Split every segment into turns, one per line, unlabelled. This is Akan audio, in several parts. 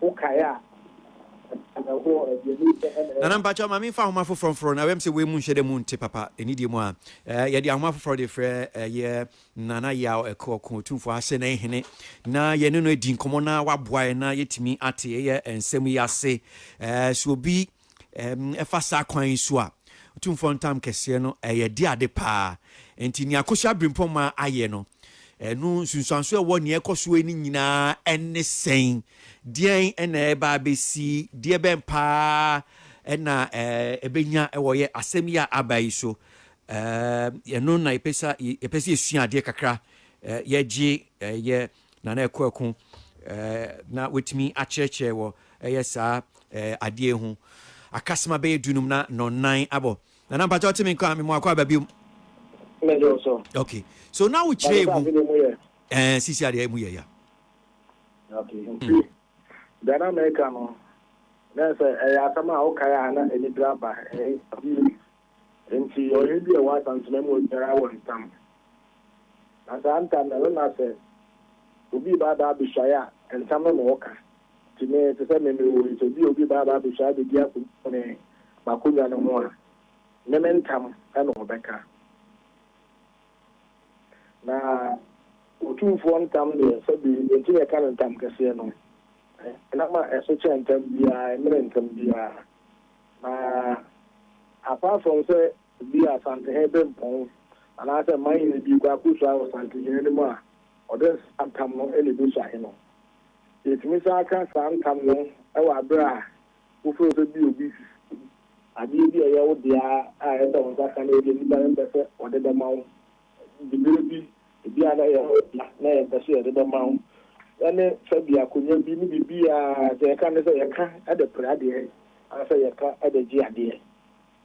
Wo kae a
ɛwɔ aduane mu sɛ ɛna Nana ɛyɛ. mpakyɛw ma menfa ahoma foforɔ mforo no ɛbɛm sɛ wei mu nhyɛ da mu nte papa ɛnidie mu a ɛɛ yɛde ahoma foforɔ de frɛ ɛyɛ Nana Yaw Ɛko Ɔko Otumfoɔ Asenee Hene na yɛne no adi nkɔmmɔ na waboa yɛn na yɛtumi ate ɛyɛ nsɛm yi ase ɛɛ so obi ɛfa saa kwan yi so a, Otumfoɔ Ntam Kɛseɛ no, ɛyɛ de ade paa. Nti nea Akosua Birimpɔmaa ayɛ no, ɛno nsunsuanso a ɛwɔ nea ɛrekɔ so yi no nyinaa ɛne sɛn? Deɛn ɛna ɛreba abɛsi? Deɛ bɛn paa ɛna ɛbɛnya ɛwɔ yɛ asɛm yi a aba yi so? Ɛno na yɛpɛ sɛ yɛsua adeɛ kakra, yɛgye yɛ Na na ɛkɔ ɛko na watumi akyerɛkyerɛ wɔ ɛyɛ saa adeɛ ho akasema bɛyɛ dunum na nɔnan abɔ. Na na mpakyɛ ɔte me nka me mu akɔ aba biom. Ok, so na wokyerɛ mu ɛɛ sisi adeɛ mu yɛ ya. Ok,
nti deɛ na meka no na sɛ ɛyɛ asɛm a wokae a na anigyeɛ aba. Enti ɔhene bi a ɔwɔ asansema mu hɔ biara wɔ ntam, na saa ntam no, ɛno na sɛ obi reba aba abɛsuae a, ntam no na ɔka. Enti me, te sɛ me, mewɔ yi, sɛ bi a obi reba aba abɛsuae abɛdi akontene m'akonnwa no ho a, ne me ntam na ɔbɛka. Na Otumfoɔ ntam deɛ, sɛbe enti na yɛka no ntam kɛseɛ no, ɛnam a ɛso kyɛn ntam biara, ɛmmene ntam biara. Na apart from sɛ bi a Asantehen de mpɔn anaa sɛ mmanhene bi rekɔ akɔsua wɔ Asantehen no mu a, ɔde saa ntam no na ɛbɛsua he no. Yɛtumi san ka saa ntam no wɔ aberɛ a wo feel sɛ bi a obi si adeɛ bi a ɛyɛ wo dea a ɛsɛ sɛ wo nsa ka na ɛbi a nipa no mpɛ sɛ ɔde bɛma wo Ɛde bere bi, ebia na yɛn ɔdɔ a na yɛpɛ sɛ yɛde bɛma wo ne fa bi akonya bi ne biribiara a sɛ yɛka ne sɛ yɛka de pere adeɛ anaasɛ yɛka de gye adeɛ.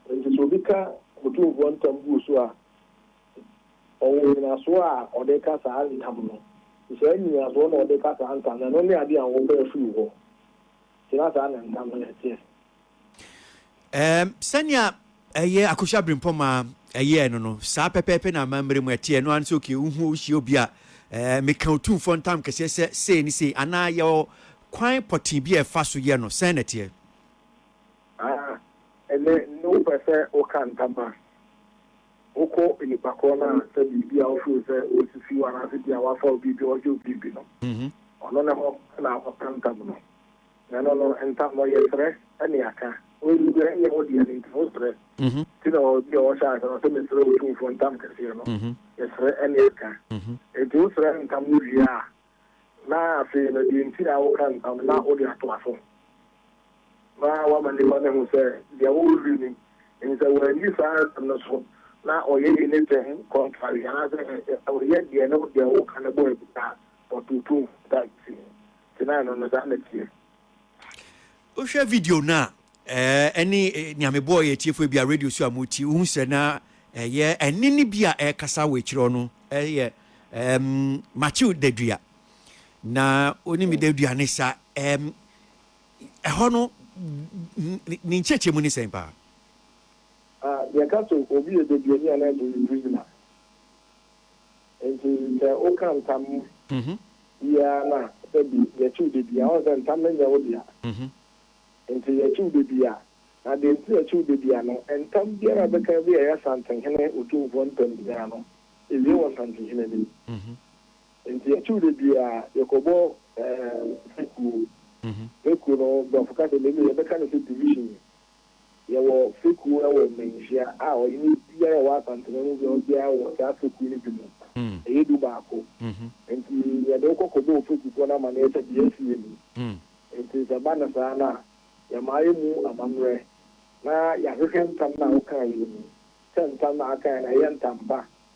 Enti sɛ obi ka Otumfoɔ ntam gu wo so a, ɔwɔ nnyinasoɔ a ɔde reka saa ntam no. Sɛ saa nnyinasoɔ na ɔde reka saa ntam no, ɛno ne adeɛ a wopɛ afiri wo hɔ. Enti na saa na ntam no teɛ. Ɛɛm,
sɛnea ɛyɛ Akosua Brimpɔma ɛyɛɛ no no, saa pɛpɛɛpɛ na amammerɛ mu ɛteɛ, ɛno ara ne sɛ okay, wohu wohyia obi a ɛɛ, meka otumfoɔ ntam kɛseɛ sɛ sei ne sei, anaa yɛwɔ kwan pɔtee bi a ɛfa so yɛ no, sɛn na ɛteɛ? Aa,
ɛnnɛ no wopɛ sɛ woka ntam a, wokɔ nnipa korɔ no a sɛ biribi a wo feel sɛ ɔresisi wo anaasɛ bi a wafa wo biribi, ɔregye wo biribi no, ɔno ne hɔ na wobɛka ntam no. Na ɛno no ntam no ɔyɛ srɛ ne aka. Ɔyi bia ɛnyɛ wo dea no nti wo srɛ. Nti na ɔbia ɔhyɛ ase no ɔsɛ mesrɛ Otumfoɔ ntam kɛseɛ no yɛ srɛ ne aka. Nti wo srɛ ntam no wie a na afei no deɛ nti a woka ntam no na wode atoa so na wama nipa no ahu sɛ deɛ wo review no nti sɛ wanni saa asɛm no so na ɔyɛ anything contrary anaasɛ ɔyɛ deɛ ne deɛ woka no bɔ abira a ɔto Otumfoɔ ntam kɛseɛ. Gyina ano no, saa na
ɛteɛ. Wohwɛ video no a, ɛne nea mebɔɔ yɛ atiefo ebia radio so a motie, wohu sɛ na ɛyɛ ɛne ne bi a ɛrekasa wɔ akyirɛ no ɛyɛ um, Matthew Dadua. Na onim mm. Dadua ne sa um, ɛhɔ no ne nkyɛkyɛ mu ne sɛn paa? Ah,
yɛka so obi yɛ Daduani anaa Durisima. Enti sɛ woka ntam biara no a, sɛ bi yɛkye wo da bi a, wohu sɛ ntam no nyɛ wo dea. Enti yɛkye wo da bi a. Na deɛ nti a yɛkye wo da bi a no, ntam biara a wobɛka bi a ɛyɛ Asantenhene Otumfoɔ ntam biara no, ɛwie wɔ Asantenhene no mu. Enti yɛkye wo da bi a, yɛkɔbɔ fekuo. Fekuo no, Borɔfo ka sɛ menu, yɛbɛka no sɛ division. Yɛwɔ fekuo wɔ Manhyia a ɔhene biara a ɔwɔ Asante man mu biara biara wɔ saa fekuo no bi mu. Ɛyɛ du baako. Nti yɛde wo kɔ kɔbɔ wo fekufoɔ no amaneɛ sɛ deɛ asi yɛ ni. Nti sɛ ɛba no saa no a, yɛma yɛmu amammerɛ na yɛahwehwɛ ntam no a wokaeɛ no mu sɛ ntam no a akaeɛ no ɛyɛ ntam pa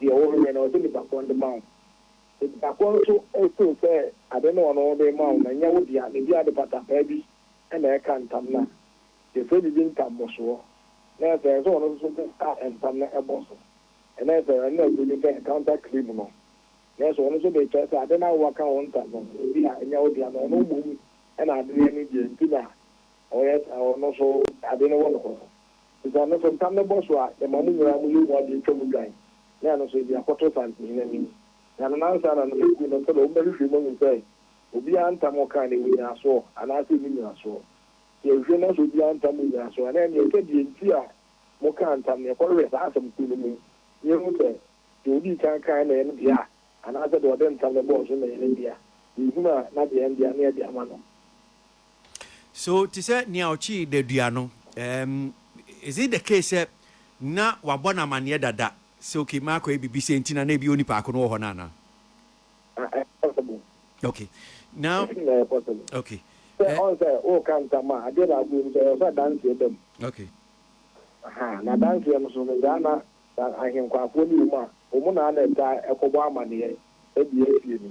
Deɛ wo hwɛ no ɔde nipa korɔ de ma wo nipa korɔ nso feel sɛ ade no ɔno de ma wo no nyɛ wo dea ne dea de patapaa bi na ɛka ntam no a yɛfrɛ biribi ntammɔsoɔ na ɛsɛ ɛsɛ sɛ ɔno nso so ka ntam no bɔ so na ɛsɛ ɛno na ɛfrɛ bi sɛ counter claim no na ɛsɛ ɔno nso de kyerɛ sɛ ade no a wowaka wo ntam no ebi a nyɛ wo dea na ɔno mmom na ade no deɛ nti na ɔyɛ ɔno nso ade no wɔ no korɔ. Ntsi ano so ntam no bɔsoa a, yɛma mo nyinara mo yamu adze etwa mu dwan, na ano so edze akɔto Saantsinhene anim. Na no nansana no, egu no sɛ dɛ wɔbɛhwehwɛ mu ehu sɛ obiara ntam ɔkaa no, ewɔ nyinasoɔ, anaasɛ enni nyinasoɔ. Sɛ yɛhwehwɛ na sɛ obiara ntam wɔ nyinasoɔ a, na ɛnneɛ ɛsɛ deɛ nti a mokaa ntam no, yɛkɔhwehwɛ saa asɛm koro no mu, na yɛhu sɛ deɛ odii kan kaeɛ no yɛ ne dea, anaasɛ deɛ ɔde ntam no bɔɔ so no yɛ ne dea. Sɛ yɛhunu a, na deɛ ɛyɛ ne dea no yɛde ama no.
So te sɛ nea ɔkyee dadua no? Um, is it the case sɛ na wabɔ no amanneɛ dada sɛ okay, makɔyɛ biribi sɛ nti na na ebi onipa ko no wɔ hɔ no anaa? Okay, now, okay. Sɛ eh. ɔn sɛ woka ntam a adeɛ baako yɛ mu sɛ ɛwɔ sɛ adanseɛ ba mu. Okay. Aha, na adanseɛ no so no saa na ahenkwafoɔ ne wɔ mu a wɔn na na ɛtaa ɛkɔbɔ amanneɛ ɛde asie no.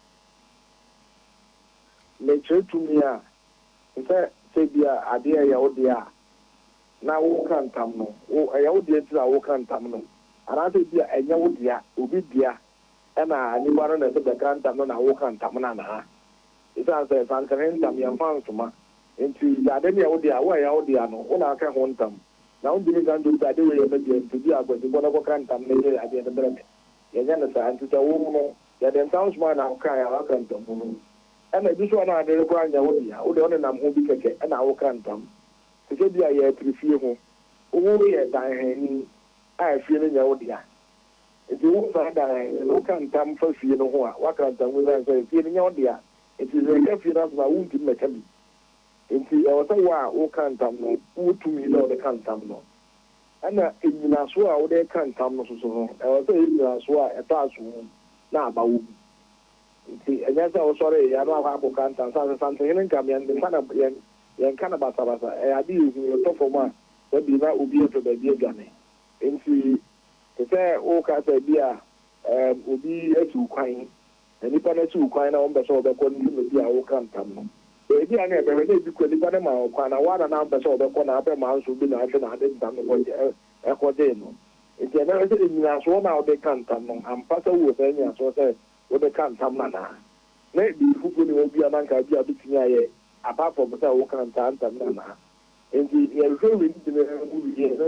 Ne kyerɛ tumi a, te sɛ sɛ ebia adeɛ a ɛyɛ wo deɛ a na woka ntam no, wo, ɛyɛ wo deɛ nti na woka ntam no, anaasɛ ebia ɛnyɛ wo dea, obi dea, ɛna nnipa no na ɛsɛ bɛka ntam no na woka ntam no anaa? Esiane sɛ sankyere ntam yɛmfa nsoma nti, sɛ ade no yɛ wo dea a, wo a ɛyɛ wo dea no, wo na aka ho ntam, na wontumi nka ntom sɛ ade wei yɛ me dea nti, ebia Kwasi, kɔ na kɔka ntam no yɛ adeɛ no brɛ me. Yɛnyɛ no saa. Nti sɛ wo no, Yɛde nsãho somaa na wokaa yɛn ara pɛnpɛn mu no. Ɛna ebi nso a na ade rekɔ anyɛ wo dea, wo deɛ wo nenam ho bi kɛkɛ na woka ntam. Te sɛ bi a yɛrepere fie ho, wohoro yɛ danhani a efie no nyɛ wo dea. Enti wo saa danhani no woka ntam fa fie no ho a, woakra ntam mu esiane sɛ fie no nyɛ wo dea nti. Sɛ yɛka fie no asɛm a, wontumi mmɛka bi. Enti ɛwɔ sɛ wo a woka ntam no, wowɔ tumi dɛ wode ka ntam no. Ɛna nnyinasoɔ a wode reka ntam no soso no, ɛwɔ sɛ ɛyɛ nnyinasoɔ a ɛtɔ asomu na aba wɔ mu. Nti ɛnyɛ sɛ wosɔree yɛ na wakɔ akɔka ntam. Sane sɛ Santehene Nkam, yɛn nka no, yɛn, yɛnka no basabasa. Ɛyɛ adeɛ a ɛhu, ɛtɔ fam a, da bi na obi apɛ baabi adwane. Nti te sɛ woka sɛ bi a, ɛɛm, obi asi wo kwan. Na nnipa no asi wo kwan na wɔmpɛ sɛ wɔbɛkɔ ne dwumadi a woka ntam no. Baabi a na ɛbɛhwɛ na edi kɔ nnipa no maa wo kwan na wo ara na na ampɛ sɛ wɔbɛkɔ na abɛ maa nso obi na ahwɛ na ade ntam no ɛkɔgyee no. Enti ɛbɛhwɛ sɛ nnyinasoɔ no a wode reka ntam no, ampa sɛ wowɔ saa nnyinasoɔ sɛ wode ka ntam no anaa. Na biribi foforɔ nni hɔ biara na anka ebia wobɛtumi ayɛ apart from sɛ woka saa ntam no anaa. Enti yɛhwehwɛ wei nyinaa mu wieɛ no,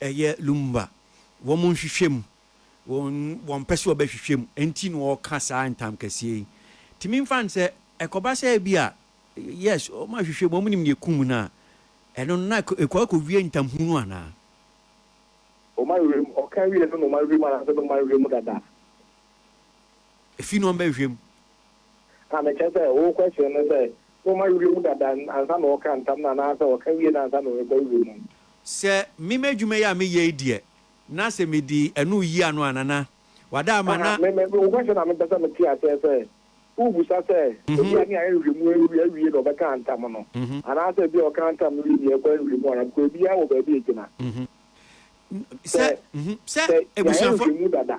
Ɛyɛ Lumumba wɔn nhwehwɛ mu, wɔn wɔn pɛ sɛ wɔbɛhwehwɛ mu nti na wɔka saa ntam kɛseɛ yi. Tumi nfa no sɛ ɛkɔba sɛ ebi a yes wɔn ahwehwɛ mu wɔn nim nea ekum no a, ɛno no na ɛkɔ ɛkɔ wie ntam hunu anaa?
Wɔn ahwehwɛ mu, ɔka wie no na wɔn ahwehwɛ mu anaasɛ na wɔn ahwehwɛ mu dada?
Efi na wɔn bɛhwehwɛ mu a
na kyerɛ sɛ wo question no sɛ na ɔma werɛ mu dada ansa na ɔka ntam no anaa sɛ ɔka wie no ansa na ɔrekɔ werɛ mu. Sɛ me
m'adwuma yi a meyɛ yi deɛ na sɛ medi ɛno reyi ano a Nana wada ama na. Aha, me, me, wo question a
mepɛ sɛ mete aseɛ sɛ wobusa sɛ ebia ne ayɛ nhwehwɛmu awie awie na ɔbɛka ntam no anaa sɛ ebia ɔka ntam no wie deɛ ɛkɔ nhwehwɛmu anaa because ebiara wɔ baabi a egyina.
Sɛ, sɛ yɛayɛ nhwehwɛmu dada.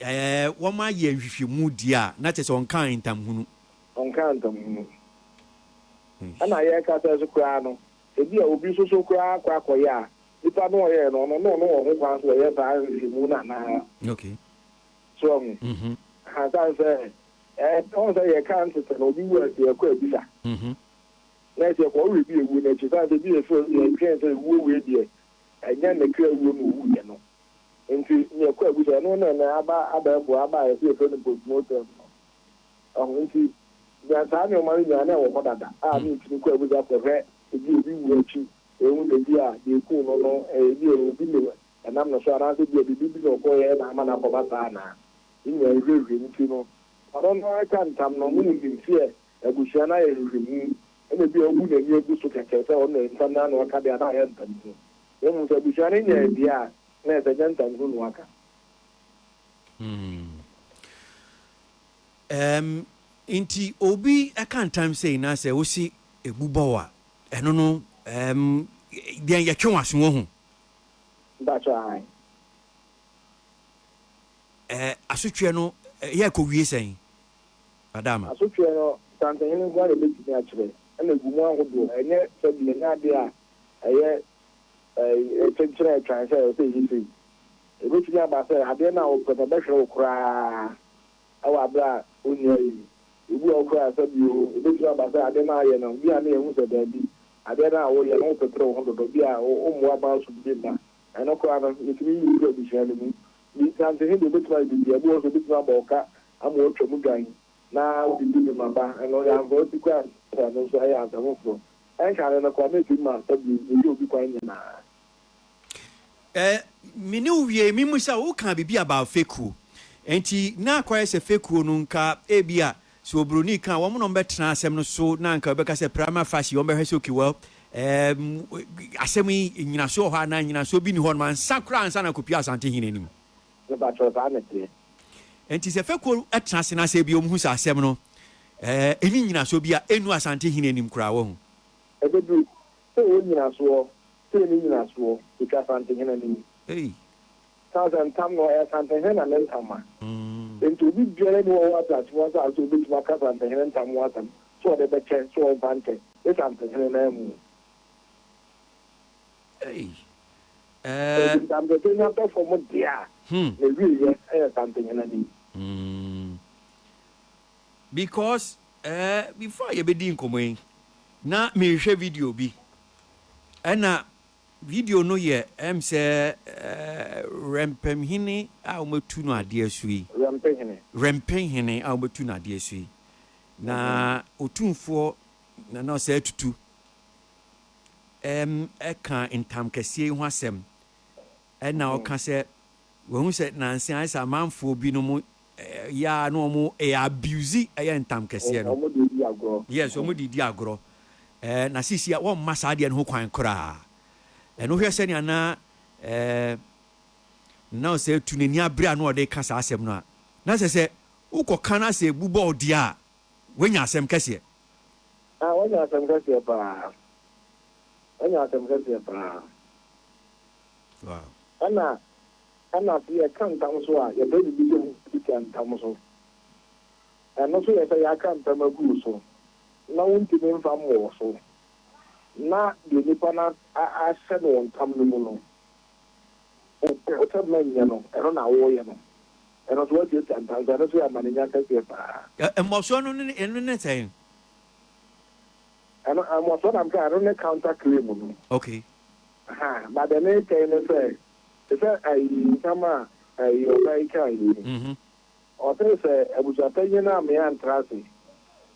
Ɛɛ, wɔma yɛɛ nhwehwɛmu deɛ a, na kyerɛ sɛ ɔnkaa ntamhunu. Ɔnkaa ntamhunu.
Ɛna yɛrekasa nso koraa no, ebi a obi nso so koraa akɔ akɔyɛ a, nipa no a ɔyɛɛ no, ɔno ne ɔno wɔ ho kwan sɛ ɔyɛ saa nhwehwɛmu no anaa. Okay. So wahu? Mhm. Aha, sane sɛ, ɛɛ, ɔhu sɛ yɛka ntetɛ no, obi wu a, sɛ yɛkɔ abisa. Mhm. Na ɛsɛ yɛkɔ ɔwerɛ bi a ewuo no akyi, sane sɛ ebi yɛ sɛ yɛdwen sɛ ewuo wei deɛ, ɛnyɛ ne kra wuo na owuiɛ no. Ntsi nea ɛkɔ agu dɛ ɛno na ɛnɛ aba abɛɛfo aba a yɛse yɛfrɛ no postmortem no. Wahu? Ntsi nea saa nneɛma no nyinaa na ɛwɔ hɔ dada a na yɛtumi kɔ agu dɛ akɔhwɛ ebia obi wu akyi, yehu dɛ ebia deɛ ekum no no ebia obi ne ɛnam no so anaasɛ ebia biribi bi na ɔkɔyɛɛ na ama no akɔba saa anaa. Ne nyinaa nhwehwɛmu nti no, ɔno no ara ka ntam no ɔno nim seɛ abusua no ayɛ nhwehwɛmu ɛna ebia wabu n'ani agu so kɛkɛ sɛ ɔno na ntam no ara na ɔka deɛ a na ayɛ ntam no. Na
mmom sɛ abusua no nya abien a, na ɛsɛ jantam ho nua ka. Ɛɛm, nti obi ka ntam sei na sɛ wosi ɛbu bɔ wo a, ɛno no, ɛɛm, deɛn yɛtwe w'aso woahu? Mpakyɛ ae. Ɛɛ, asotweɛ no yɛ kɔ wie sɛn? Adaama. Asotweɛ no,
Asantehene nko ara na ɛbɛtumi akyerɛ, ɛna ɛgu mu ahodoɔ. Ɛnyɛ sɛdeɛ, ɛnyɛ adeɛ a ɛyɛ kyenkyene a ɛtwan sɛ ɛwɔ sɛ ɛyɛ sei. Ɛbɛtumi aba sɛ adeɛ no a wopɛ no ɛbɛhwere wo koraa wɔ aberɛ a wonni ayɛ mu. Ɛbu a wokura nsa bi oo, ɛbɛtumi aba sɛ adeɛ no a woyɛ no, bi a na yɛhu sɛ daabi, adeɛ no a woyɛ no wopepere wo ho dodo, bi a wommoa ma aso bi mma. Ɛno koraa no, mɛtumi yi wo firi abusua no mu, Me nteaseɛnho deɛ ɔbɛtumi ayɛ biribiara, ebi wɔ hɔ nso ɔbɛtumi abɔ wo ka ama woatwa mu dwan na wode di dwuma ba ɛno ɔyɛ ansa wasi kwan a ɛsɛ ɛno nso ɛyɛ ansa foforɔ ɛnka ne no koraa na ɛtumi ma asɔ bio na ɛyɛ obi kwan nyinaa. Eh,
me ne wo wiei me hu sɛ wo kaa biribi about fekuo nti na akɔyɛ sɛ fekuo no nka ebia So obroni ka wɔn na wɔbɛtena asɛm no so na anka wobɛka sɛ prima facie wɔbɛhwɛ sɛ okay well ɛɛm asɛm yi nnyinaso wɔ hɔ anaa nnyinasoɔ bi nni hɔ nom ansa koraa ansa na akɔpue Asantehene anim? Mepakyɛw saa na ɛteɛ. Nti sɛ fɛkuo tena ase na sɛ bi wɔn hu sɛ asɛm no ɛɛ ɛnni nnyinasoɔ bi a ɛnnu Asantehene anim koraa wahu. Ɛbɛduru
sɛ ɛwɔ nnyinasoɔ sɛ ɛnni nnyinasoɔ ɛtwa Asantehene anim. Ei. Sasa ntam no ɔyɛ Asantehene na ne ntam ma. Enti obi biara nni hɔ wɔ ateasefo asase so a obetumi aka Asantehene ntam ho asɛm sɛ ɔde bɛkyɛ sɛ wɔmfa nkyɛ ne Santehene no amu. Enti ntam kɛse no atɔ fam de a, n'awieɛ yɛ Santehene no yi.
Because eh before a yɛbɛdi nkɔmmɔ yi na merehwɛ video bi ɛna Video no yɛ ɛm sɛ Wrɛmpɛmhene a wɔatu no adeɛ so yi. Wrɛmpɛhene. Wrɛmpɛhene a wɔatu no adeɛ so yi. Na Otumfoɔ Nana Osei Tutu ɛm ɛka ntamkɛseɛ yi ho asɛm ɛna ɔka sɛ wahu sɛ nanse ayɛ sɛ amanfoɔ binom Yɛ a na ɔmo ɛyɛ abuse ɛyɛ ntam kɛseɛ no. Ɔmo de di agorɔ. Yes ɔmo de di agorɔ ɛɛ na sisi a wɔmma saa adeɛ no ho kwan koraa ɛɛ no hwɛ sɛnea na ɛɛ na ɔsɛ etu n'ani abere a na ɔde ka saa asɛm no a na sɛ sɛ wokɔ ka na sɛ ebu bɔ ɔdeɛ a wanya asɛm kɛseɛ. Ah wanya
asɛm kɛseɛ paa wanya asɛm kɛseɛ paa. Wow. Ɛna. Ɛna se yɛka ntam so a, yɛpɛ biribi sɛ mudi kan ntam so. Ɛno nso yɛ sɛ yɛaka ntam agu wo so, na wontumi mfa mmɔ wo so, na deɛ nnipa no ahyɛ no wɔ ntam no mu no, wopɛ sɛ manyɛ no, ɛno na woreyɛ no. Ɛno nso woatuatua ntam so. Ɛno nso yɛ amanenya kɛseɛ paa. Mmɔsoɔ no ne,
ɛno ne sɛn?
Ɛno, mmɔsoɔ na meka, ɛno ne counter claim no. Okay.
Aha, but
deɛ meretwɛn ne sɛ, Te sɛ ayi nsɛm a ayi ɔbaa yi kae yi no, ɔsee sɛ abusuapanyin no ammee antra ase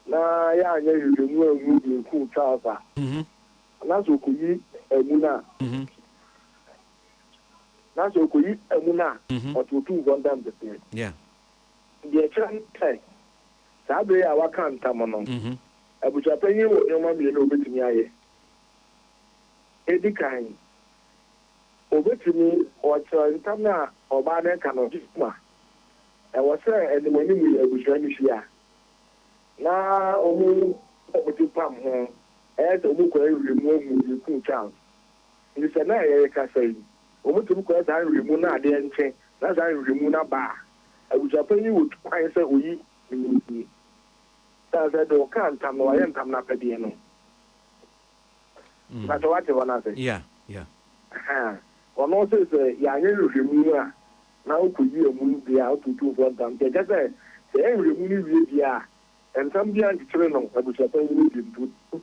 na yɛanyɛ hwehwɛ mu anhu deɛ ɛkum Charles a, na sɛ ɔkɔyi amu no a, na sɛ ɔkɔyi amu no a, ɔte ɔtumfoɔ ntam kɛseɛ.
Deɛ ɛkyerɛ
ne sɛ, saa berɛ yi a wɔaka ntam no, abusuapanyin wɔ nneɛma mmienu a ɔbɛtumi ayɛ. Ɛdi kan, Obetumi, wɔkyerɛw ntam a ɔbaa no reka no ho ma. Ɛwɔ sɛ anim anim yi abusua no hyia na wɔbɔ wɔn ti pam ho. Ɛyɛ sɛ wɔkɔ nhwiren mu ahu nea ekum Charles. Enti sɛ na yɛrekasa yi, wɔtumi kɔyɛ saa nhwiren mu na ade antwe na saa nhwiren mu no aba a, abusuapɛn yi wɔ kwan sɛ oyi ne ho ni. Esiane sɛ deɛ ɔkaa ntam no, wayɛ ntam no apɛdeɛ no Mpakyɛ wate hɔ no ase? Yeah, yeah.
Ahaa. Ɔno
ɔse sɛ yɛanyɛ nhwehwɛmu no a, na wokɔyi amu no deɛ a, woto otumfoɔ ntam. Nti ɛkyerɛ sɛ, sɛ yɛyɛ nhwehwɛmu no wie deɛ a, ntam biara nkyekyere no abusuapɔn yi mu bio. Nti wotu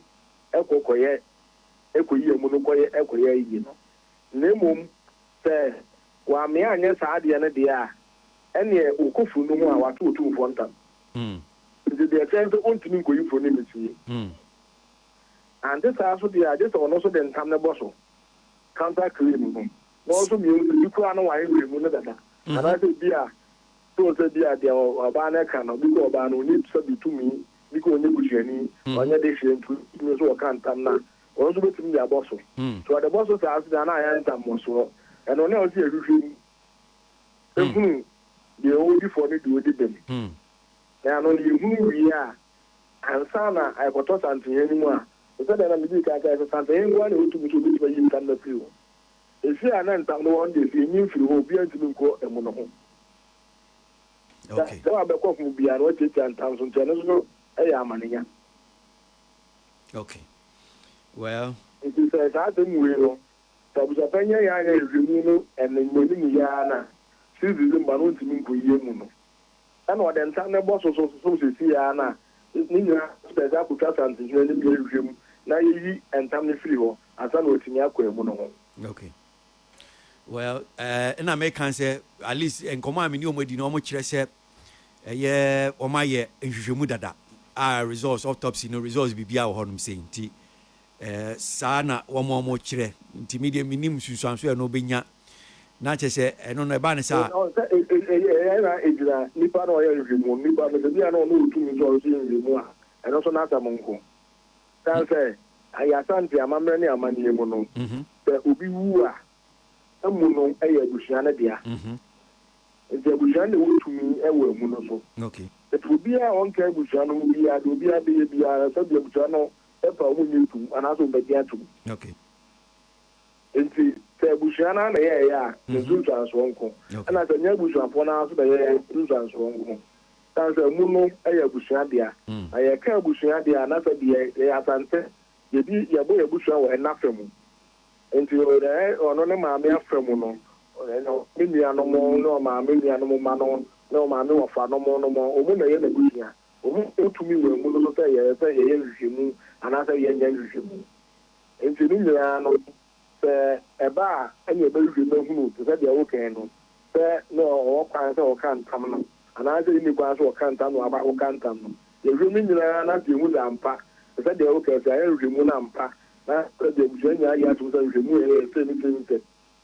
kɔ kɔyɛ, kɔyi amu no kɔyɛ, kɔyɛ ayi no. Na mmom sɛ wammea anyɛ saa adeɛ no deɛ a, ɛnneɛ wɔkɔ funu no mu a, wɔato otumfoɔ ntam. Nti deɛ ɛkyerɛ ne sɛ, wɔntumi nkɔyi funu no nsie. Ante saa nso deɛ a, gye sɛ ɔno nso de ntam no bɔ so, counter claim no, na ɔno nso mmienu no, bi koraa no wae mmienu no dada. Anaasɛ ebi a, so sɛ bi a deɛ ɔbaa no ka no, bi kɔ ɔbaa no, ɔnni sɛ bi tumi, bi kɔ ɔnyɛ busuani, ɔnyɛ de hyeɛ nti, ɔtumi nso ɔka ntam no a, ɔno nso bɛtumi de abɔ so. Sɛ ɔde bɔ so saa nso deɛ a, na ayɛ ntam mmɔsoɔ. Ɛno na ɛwɔ sɛ yɛhwehwɛ mu hunu deɛ ɔdi fɔ ne deɛ ɔdi bem. Na ɛno no yɛhunu wie a, Ansa na ɛrekɔtɔ santenyɛ no mu a, te sɛ nea na midii kan kae sɛ, santenyɛ nko ara na ɛwɔ tumi sɛ obetumi ayi ntam no afiri hɔ. Efie a na ntam no wɔ hɔ no deɛ, sɛ enyin firi hɔ a, obiara ntumi nkɔ mu no ho. Sɛ sɛ wabɛkɔ fam biara no, wɔatiatia ntam so, nti ɛno nso so yɛ amanenya.
Okay. Well. Nti sɛ
saa asɛm wei no, sɛ abusuapanyin annyɛ anhwɛ nhwehwɛmu no ɛnɛ mmamu no yie ara no a, six December no wontumi nkɔ yie mu no. Ɛna ɔde nsa no bɔ soso soso mu sɛsi ara no a, ne nyinaa bɛsɛ akotwa Asantehene anim na yɛhwehwɛ mu na yɛyi ntam no firi hɔ ansa na watumi akɔ amu no ho. Okay.
Well, eh, na meka sɛ, at least nkɔmmɔ a me ne wɔn adi no, wɔn kyerɛ sɛ ɛyɛ wɔn ayɛ nhwehwɛmu dada a results autopsy no results biribiara wɔ hɔnom sei nti Ɛɛ, saa na wɔn a wɔkyerɛ. Nti me deɛ mennim nsunsuansoɔ a ɛno bɛnya. Na kyerɛ sɛ, ɛno no, ɛbaa no sɛ a. Ɔn, sɛ e, e, e, ɛyɛ
na egyina nipa na ɔyɛ nhwehwɛmu, nipa no, sɛ bi a na ɔno otumi sɛ ɔyɛ nhwehwɛmu a, ɛno nso n'asɛm nko. San sɛ, yɛ Asante amammerɛ ne amanneɛ mu no, sɛ obi wu a, amu no yɛ abusua no dea. Nti abusua no na ɛwɔ tumi wɔ amu no so. Nti
obiara a ɔnka
abusua no ho biara, deɛ obiara bɛyɛ biara, sɛdeɛ abusua no bɛfa wɔn nnye ntom anaasɛ wɔbɛgye atom. Enti sɛ abusua no ara na ɛyɛeɛ a, yɛ nsunsuansoɔ nko, ɛnna sɛ ɛnyɛ abusuafoɔ no ara nso na ɛyɛeɛ a, nsunsuansoɔ nko. Ɛsiane sɛ emu no yɛ abusua dea, na yɛka abusua deɛ a, na sɛ deɛ yɛyɛ Asante, yɛdi yɛbɔ yɛn abusua wɔ ɛna fa mu. Enti ɛɛ ɔno ne maame afa mu no, ɛɛ ne nuanom ne ɔmaame nuanom mma no ne ɔmaame wɔfa nom nom, wɔn na ɛyɛ n'abusua. Wohu wo tumi wɔ amu no so sɛ ɛyɛ sɛ yɛyɛ nhwehwɛmu anaasɛ yɛnyɛ nhwehwɛmu. Enti ne nyinaa no, sɛ ɛba a, ɛnneɛ yɛbɛhwehwɛ mu ahunu, te sɛ deɛ wokae no, sɛ na ɔwɔ kwan sɛ ɔka ntam no, anaasɛ ɛnni kwan sɛ ɔka ntam na waba akɔka ntam no. Yɛhwɛ mu nyinaa na afei yɛhu sɛ ampa, te sɛ deɛ wokae, sɛ yɛayɛ nhwehwɛmu no ampa, na sɛdeɛ abusua nyinaa gye atom sɛ nhwehwɛmu a ɛyɛ sɛ ne tirim sɛ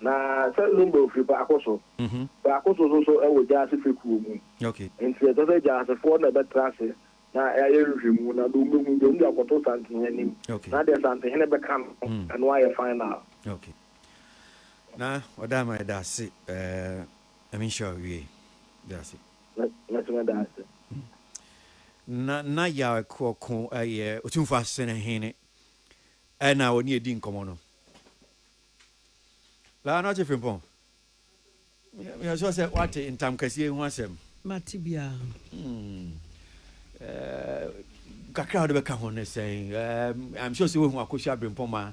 Na
Salomo
bɔ firi baako so, baako so nso so wɔ gyaase fekuo mu. Enti ɛsɛ sɛ
gyaasefoɔ
na bɛtra ase na ayɛ nhwehwɛmu na deɛ wɔbɛhu deɛ wɔn de akɔto Santehene anim na deɛ Santehene bɛka no, ɛno ayɛ final. Ok.
Na Ɔdaama yɛda ase. Nyame nhyira wo yie. Yɛda ase. Mɛso mɛda
ase. Na
na Yaw Akuoko yɛ Otumfoɔ Asene Hene ɛna ɔne yɛdi nkɔmmɔ no. Baa no akye Frimpong. Meyɛ sure sɛ woate ntamkasie yi ho asɛm. Mate biara. Ɛɛm, kakra a wode bɛka ho ne sɛn? Ɛɛm, I'm sure sɛ woahu Akosua Brimpong ma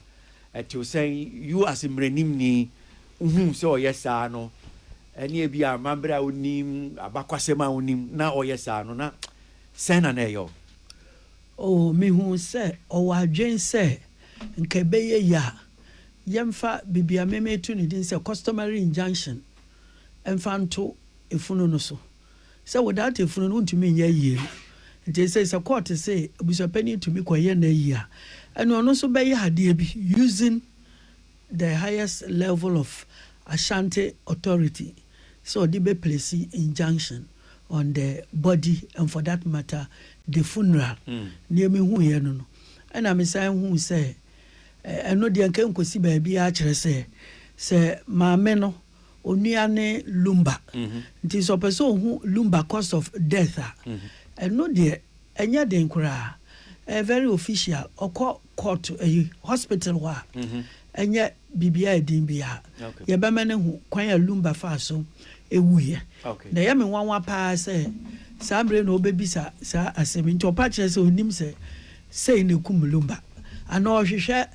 ɛtew sɛn, you as mmaranimni, wohu sɛ ɔyɛ saa no, ɛne ebia amammerɛ a wonim, abakwasɛm a wonim, na ɔyɛ saa no, na sɛn na na ɛyɛ wo? Oh,
mihuu sɛ ɔwɔ adwene sɛ, nka ɛbɛyɛ ye a yɛmfa biribi a me meto ne din sɛ customary injunction mfa nto efunu no so, sɛ without efunu no wontumi nyɛ ayie no. Nti ɛsei sɛ court se abusuapanin tumi kɔyɛ n'ayie a, ɛnneɛ ɔno nso bɛyɛ adeɛ bi using the highest level of Ashanti authority. sɛ ɔde bɛ plesi injunction on the body and for that matter the funeral neɛ me huiɛ no no ɛna me san huu sɛ ɛno deɛ nka ɛnkɔsi baabiara kyerɛ sɛ sɛ maame no onua ne lumba mm-hmm. nti sɛ ɔpɛ sɛ ɔhu lumba cause of death a mm-hmm. ɛno deɛ ɛnyɛ den koraa ɛyɛ very official ɔkɔ court ɛyi hospital hɔ a ɛnyɛ biribiaa ɛdin biaa yɛbɛma no ahu kwan a Lumba faa so ɛwuiɛ na ɛyɛ me nwanwa paa sɛ saa berɛ na ɔbɛbisa saa asɛm yi nti ɔpa kyerɛ sɛ ɔnim sɛ sei na ɛkum Lumba anaa ɔhwehwɛ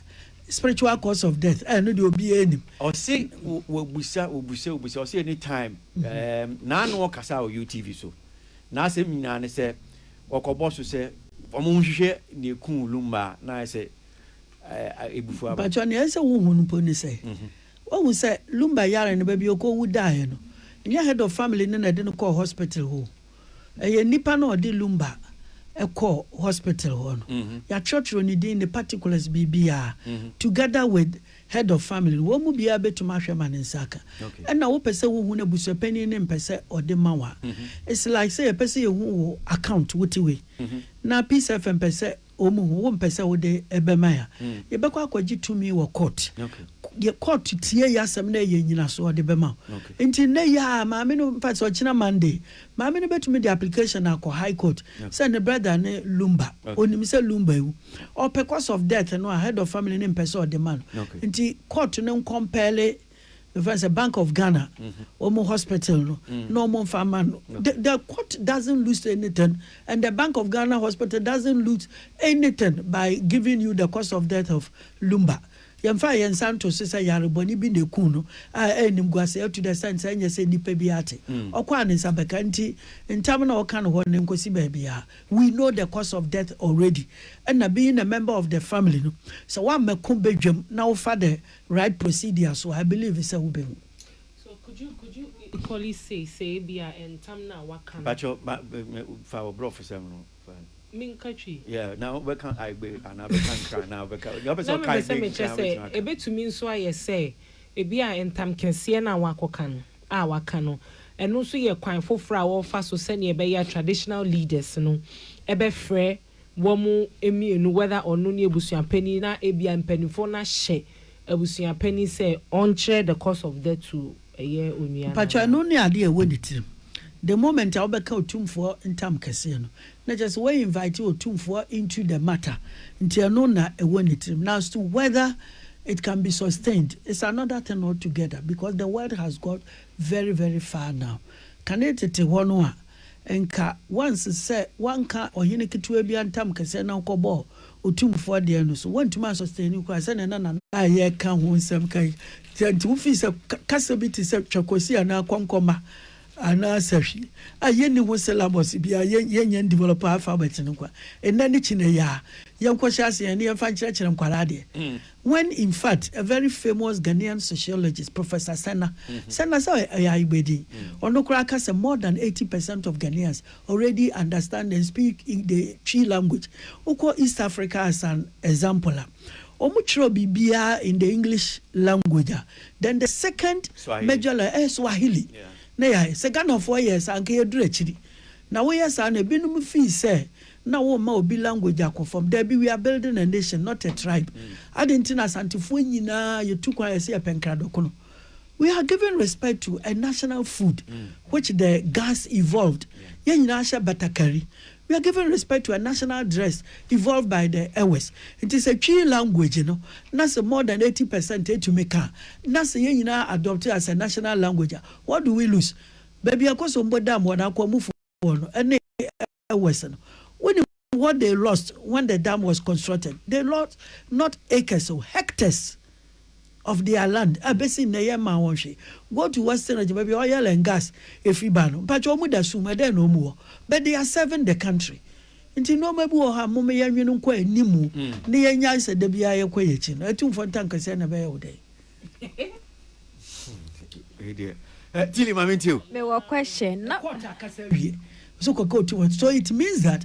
spiritual cause of death ɛɛ no deɛ obiaa nim Ɔse
wɔbusa wɔbusa wɔbusa ɔse anytime naano ɔkasa wɔ UTV so N'asɛm nyinaa ne sɛ wɔkɔbɔ so sɛ wɔnhwehwɛ nea ekum Lumba a na ayɛ sɛ abufuw aba. Mpakyɛw, nea ɛsɛ sɛ wuhu
no mpo ne sɛ, woahu sɛ Lumba yare no, baabi a okowu dae no, ɛnyɛ Head of Family no na ɛde no kɔɔ hospital hɔ o. Ɛyɛ nnipa no a wɔde Lumba kɔɔ hospital hɔ no. Yɛatwerɛtwerɛ ne din, ne particulars, biribiara, together with Head of family no, wɔn mu biara betumi ahwɛ ma ne nsa aka. Ɛna wopɛ sɛ wohu no, abusuapanyin no mpɛ sɛ ɔde ma wo a, it's like sɛ yɛpɛ sɛ yehu wo account, wo ti wei, na Peace FM pɛ sɛ wɔn hu, wompɛ sɛ wode bɛma yɛn a, yɛbɛkɔ akɔgye tumi wɔ court. Deɛ court tie yɛ asɛm na ɛyɛ nnyinaso a, ɔde bɛma wo. Nti nnɛ yi ara, maame no, in fact, ɔkyena Monday, maame no betumi de application akɔ High Court sɛ ne brother ne Lumba, onim sɛ Lumba awu. ɔpɛ cause of death no a head of family no mpɛ sɛ ɔde ma no nti court no nkɔmpɛɛle mefrɛ sɛ bank of ghana wɔn hospital no na wɔn mfa ma no the, the court doesn't lose anything and the bank of ghana hospital doesn't lose anything by giving you the cause of death of lumba yɛmfa yɛn nsa nto so sɛ yarebɔne bi na eku no a ɛnim guase atu dɛ sɛn sɛ ɛnyɛ sɛ nipa bi ate ɔkɔ a ne nsa bɛka nti ntam na ɔka no hɔ ne nkosi baabi a We know the cause of death already ɛna being a member of the family no sɛ woammɛko badwam na wofa the right procedure so a I believe sɛ wobɛhu. So could you
could you equally say sɛ ebia ntam no a waka no. Pakyɛw ma me fa wɔ brɔfosɛm no fa.
Menka twi. Yeah na wobɛka aegbe anaa bɛka nkran anaa wobɛka
nea wopɛ sɛ
ɔka aegbe nyinaa wobɛtumi aka. Na mepɛ sɛ mɛkyɛ sɛ
ɛbɛtumi nso ayɛ sɛ ebia ntam kɛseɛ no a woakɔka no. a waka no, ɛno nso yɛ kwan foforɔ a wɔrefa so sɛdeɛ ɛbɛyɛ a traditional leaders no bɛfrɛ wɔn mmienu, whether ɔno ne abusuapanin na ebia mpaninfoɔ no ahyɛ abusuapanin sɛ ɔnkyerɛ the cause of death to ɛyɛ onua no Mpakyɛw, anaa. ɛno ne adeɛ a
ɛwɔ ne tirim the moment a wobɛka Otumfoɔ ntam kɛseɛ no, Na kyerɛ sɛ wɔ invite Otumfoɔ into the matter nti ɛno na ɛwɔ ne tirim na as to whether it can be sustained it's another thing all together because the world has got very very far now. Kane tete hɔ no a nka once sɛ wanka ɔhene ketewa bi antam kɛseɛ na wokɔbɔɔ Otumfoɔ deɛ no so wantumi an sustain no koraa sɛdeɛ na Nana a yɛreka ho nsɛm ka yi sɛ nti wofii sɛ kasa bi te sɛ Twakosi anaa Kɔnkɔma Anaasɛ hwi a yɛnni ho syllabus biara, yɛn yɛnyɛ ndevelop alphabet no kwa, nnɛ ne kyinɛ yi aa, yɛnkɔhyɛ ase yɛn ne yɛmfa nkyerɛkyerɛ nkwadaa adeɛ when in fact a very famous Ghanaian sociologist Professor Sena Sena sɛ ɔyɛ Ayigbe din, ɔno koraa ka sɛ more than 80 percent of Ghanaians already understand and speak the Twi language, wokɔ East Africa as an example a. wɔkyerɛw biribiara in the English language a, then the second major language ɛyɛ Swahili na yɛayɛ. Sɛ Ghanafoɔ yɛɛ saa a, anka yɛaduru akyiri. Na woyɛ saa no, ebinom fii sɛ na worema obi language akɔ fam. Dabi, we are building a nation, not a tribe. Adɛn nti na Asantefoɔ nyinaa yɛtu kwan a yɛse yɛpɛ nkradɔkono? We are giving respect to a national food which the Gans evolved. Yɛn nyinaa hyɛ batakari. We are giving respect to a national dress evolved by the Ewes. Nti sɛ Twi language no na sɛ more than eighty percent ɛtumi ka a, na sɛ yɛn nyinaa adopt as a national language a, what do we lose? Baabi a ɛkɔ so mbɔ dam wɔ n'akwanmufoɔ no ɛne Ewes no. Wonim what they lost when the dam was constructed? They lost not acres o, hectares. of their land a besi nnɛ yɛn mmaa wɔn hwee go to western region baabi a oil and gas efiri ba no mpakyɛ wɔn da sum ɛdɛn na wɔn wɔ but they are serving the country nti nneɛma bi wɔ hɔ a mom yɛn nwene nkɔ anim mu mm. ne yɛn nyan sɛ da biara yɛkɔ yɛn akyi no atumfoɔ ntankasɛ na ɛbɛyɛ wo dɛn. Eh,
tili maame nti o. mewɔ question
na. ɛkɔɔta akasa wie
so kɔkɛ otu wɔn so it means that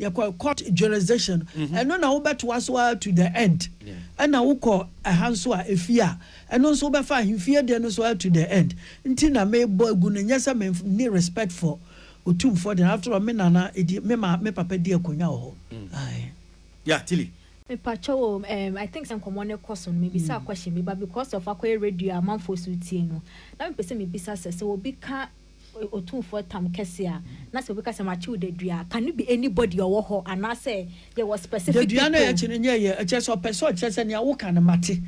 Yɛkɔ court jurisdiction ɛno na wobɛtoa so ara to the end. Ɛna wokɔ ɛha nso a, efie a, ɛno nso wobɛfa ahemfie deɛ no so ara to the end. Nti na mebɔ agu no, nyɛ sɛ menni respect for Otumfoɔ deɛ no, after all me nana di, me ma, me papa di akonwa wɔ hɔ. Aye.
Yeah, Tilly. Mepakyɛw o,
ɛɛm I think sɛ nkɔmmɔ no rekɔ so no, mebisaa question bi but because of akɔyɛ radio a amanfoɔ nso retie no, na mepɛ sɛ mebisa sɛ, sɛ obi ka. Otumfoɔ tam kɛse a, na sɛ obi ka sɛ makyew dadua a, can it be anybody a ɔwɔ hɔ anaasɛ yɛwɔ specific people? Dadua no a yɛkye no nyɛ yɛn, ɛkyerɛ sɛ ɔpɛ
sɛ ɔkyerɛ sɛ nea woka no mate.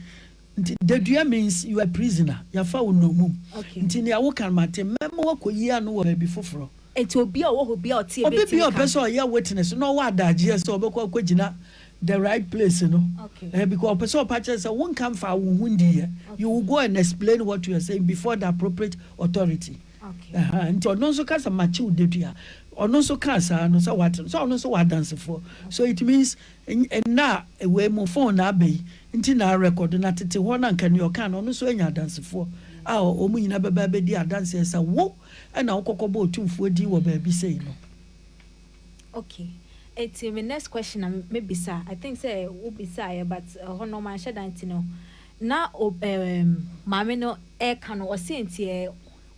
Nti dadua means you are prisoner, yɛafa wo nnommum. Okay. Nti nea woka no mate, mɛma woakɔyi ano wɔ baabi foforɔ. Nti obiara a ɔwɔ hɔ biara a ɔte yɛ bɛtumi ka? Obi biara a ɔpɛ sɛ ɔyɛ witness na ɔwɔ adagyeɛ sɛ ɔbɛkɔ akɔgyina The right place no eh because ɔpɛ sɛ ɔpa kyerɛ sɛ wonka mfaa wo ho ndiiɛ you will go and explain what you are saying before the appropriate authority aha nti ɔno nso ka sɛ makye wo dadua ɔno nso kaa saa no sɛ wate no sɛ ɔno nso wɔ adansefoɔ so it means nna a ewei mu phone na aba yi nti na record na tete hɔ na nka nea ɔka no ɔno nso anya adansefoɔ a wɔn nyinaa bɛba abɛdi adanseɛ sɛ wo ɛna wokɔkɔbɔ otumfoɔ din wɔ baabi sei no.
Ok enti me next question na mɛ bisa I think sɛ wo bisaeɛ but ɛhɔ no manhyɛ da nti no na ob ɛɛm maame no ɛɛka no ɔse nti ɛɛ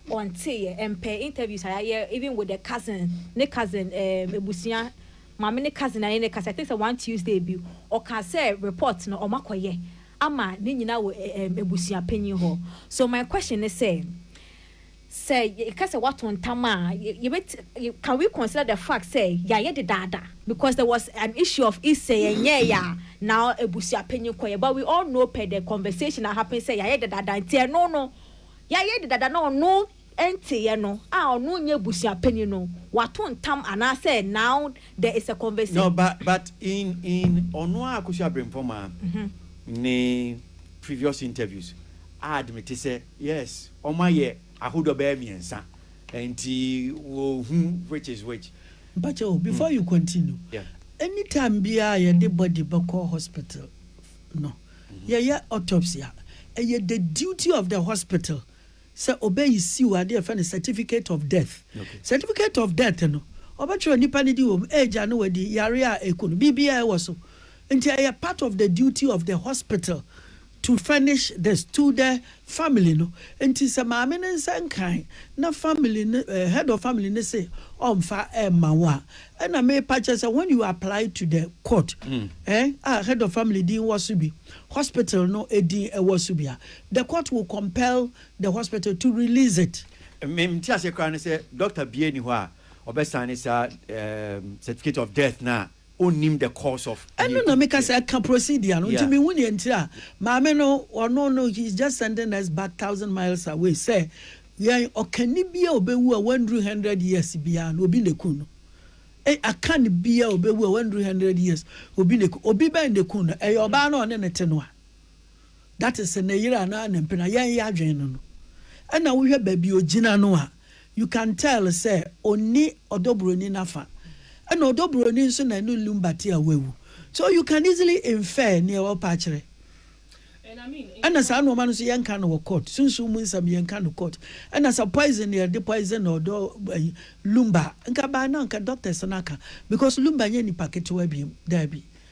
ɔnteeɛ ɛmpɛ interviews a yayɛ even with the cousin ne cousin ɛɛm abusua maame ne cousin ayɛ ne kasa I think sɛ one Tuesday bi ɔkaa sɛ report no ɔmo akɔyɛ ama ne nyinaa wɔ ɛɛm abusua panyin hɔ so my question ne sɛ. Sɛ yɛka sɛ wɔato ntam a, yɛbɛtumi, can we consider the fact sɛ yɛayɛ dedaada? Because there was an issue of if sɛ yɛnyɛɛe a na abusuapanyin kɔ yɛn but we all know per the conversation a happen sɛ yɛayɛ dedaada nti ɛno no yɛayɛ dedaada na ɔno nteeɛ no a ɔno nyɛ abusuapanyin no wato ntam anaasɛ now there is a conversation. No but but
in in ɔno ara Akosua Abrempong Mah ne previous interviews a admite sɛ. Yes ɔmo ayɛ ahodoɔ bɛyɛ miensa nti wo hu which is which. Mpakyɛw before
you continue Yeah. any time biaa yɛde body bɛkɔ hospital no yɛyɛ autopsy a ɛyɛ the duty of the hospital sɛ ɔbɛ issue adeɛ yɛfrɛ no certificate of death Okay. certificate of death no ɔbɛtwerɛ nipa no din wɔ mu age a na wadi yareɛ a ɛku no biribiaa ɛwɔ so nti ɛyɛ part of the duty of the hospital to furnish the to the family no nti sɛ maame no nsa nkae na family no eh, head of family no se ɔmfa ɛmma wo a ɛna mepa kyɛ sɛ when you apply to the court mm. eh, a head of family din wɔ so bi hospital no edin ɛwɔ so bi a the court will compel the hospital to release it mmem ti ase
koraa ne sɛ doctor bie ni hɔ a ɔbɛsan ne saa certificate of death na ɔnnim the cause of nea ɛkɔ mu biara. Ɛno na meka sɛ ɛka
procedure no nti menhu nea nti a maame no ɔno no he is just sending us back thousand miles away sɛ yɛn ɔkani biara a ɔbɛwu a wannuru hundred years biara no obi na ɛku no. Ei Akan biara a ɔbɛwu a wannuru hundred years obi na ɛku obi bɛn na ɛku no ɛyɛ ɔbaa no a ɔne ne te no a that is ne yere anaa ne mpena yɛn yɛadwene no no ɛna wohwɛ baabi ɔgyina no a You can tell sɛ onni ɔdɔbroni no afa, ɛna ɔdɔbroni nso na ɛne Lumba te a wawu. So you can easily infer nea ɔrepɛ akyerɛ. Ɛna saa nnoɔma no nso yɛnka no wɔ court, sunsum mu nsɛm yɛnka no court. Ɛna sɛ poison na yɛde poison ɔdɔ ayi Lumba a, nka by now nka doctors no aka because Lumba nyɛ nipa ketewa biom, daabi.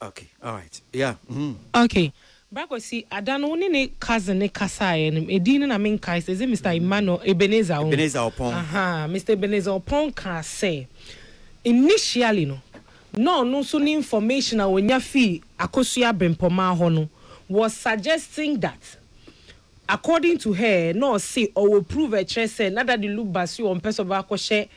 Okay alright yeah mm. Okay
bra Kwasi ada no wo ne ne cousin no kasaeɛ no ɛdin no na me nkae sɛ is it Mister Emmanuel Ebenezer ho Ebenezer Opong ahaa
Mister Ebenezer
Opong kaa sɛ initially no na ɔno nso ne information a ɔnya fii Akosua Brempɔmaa hɔ no was suggesting that according to her na ɔse ɔwɔ prove ɛkyerɛ sɛ na Daddy Luke Basio ɔmpɛ sɛ ɔbɛkɔhyɛ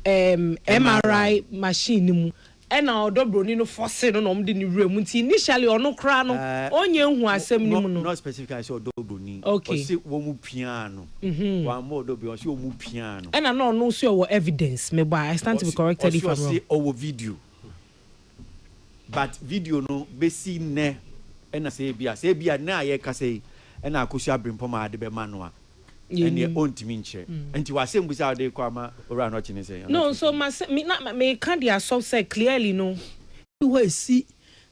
ɛɛm MRI machine no mu Ɛna ɔdɔ broni no fɔse no na ɔmo de no wura mu nti initially ɔno koraa no ɔnyɛ nhu asɛm no mu no. Not specifically sɛ ɔdɔ
broni ɔse wɔmo piaa no wammɔ ɔdɔ broni ɔse ɔmo piaa no. Ɛna na ɔno nso ɔwɔ
evidence mebɔ a I stand to be corrected if I'm wrong. Ɔse ɔwɔ video
but video no besi nnɛ ɛna sɛ ebia sɛ ebia nnɛ a yɛkasa yi ɛna Akosua Brempɔm a de bɛma no a. ɛneɛ ɔntumi nkyerɛ. Nti w'asɛmbusa a wode rekɔ ama Owura no ɔkye ne sɛn? No, nso m'asɛ, me, na,
meka de asɔ sɛ clearly no. Bi hɔ a ɛsi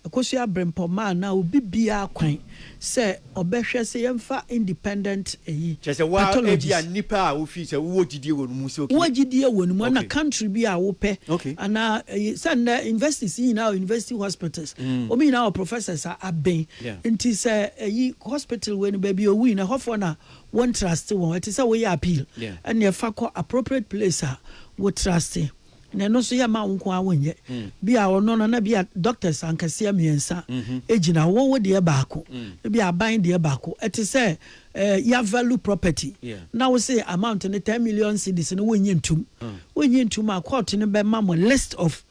Akosua Abrempɔma a na obi biara kwan sɛ ɔbɛhwɛ sɛ yɛmfa independent ayi, Kyerɛ sɛ wo a,
pathologist. ebia nnipa a wofi sɛ wowɔ gyidie wɔ no mu sɛ okay. Wowɔ gyidie wɔ no mu, ɛna
Okay. country bi a wopɛ, Okay. anaa ɛyi,
sɛ
nnɛ universities yi nyinaa wɔ university hospitals, wɔn nyinaa wɔ professors a aben, Nti sɛ ɛyi hospital wei no baabi owui no ɛhɔfoɔ na wɔn trust wɔn ɛte sɛ woyɛ appeal ɛne ɛfa kɔ appropriate place a wo trust na ɛno nso yɛ ma wo nko ara wonyɛ mm. bi a ɔno no na bi a doctors ankaseɛ mmiɛnsa ɛgyina mm-hmm. wo wo deɛ baako mm. bi aban deɛ baako ɛte sɛ eh, ya value property yeah. na wo se amount no ten million cedis no wonyi ntum mm. wonyi ntum a court no bɛma mo list of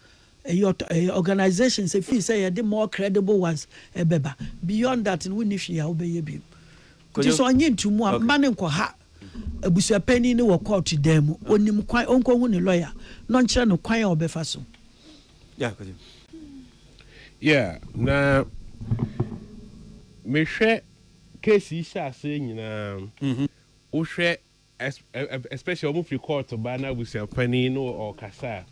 Ɛyɛ ɔtɔ ɛyɛ organisations efii sɛ yɛde more credible ones ɛbɛba beyond that no wonni hwee a wobɛyɛ biom nti sɛ ɔnye nto mu a mma no nkɔha abusuapanin no wɔ court dan mu onim kwan ɔnkɔhu ne lawyer na ɔnkyerɛ no kwan a ɔbɛfa so. Yeah kɔgyem.
Yeah na mehwɛ case yi hyɛ aseɛ nyinaa wohwɛ especially wɔn firi kɔɔto ba na abusuapanin no ɔɔkasa a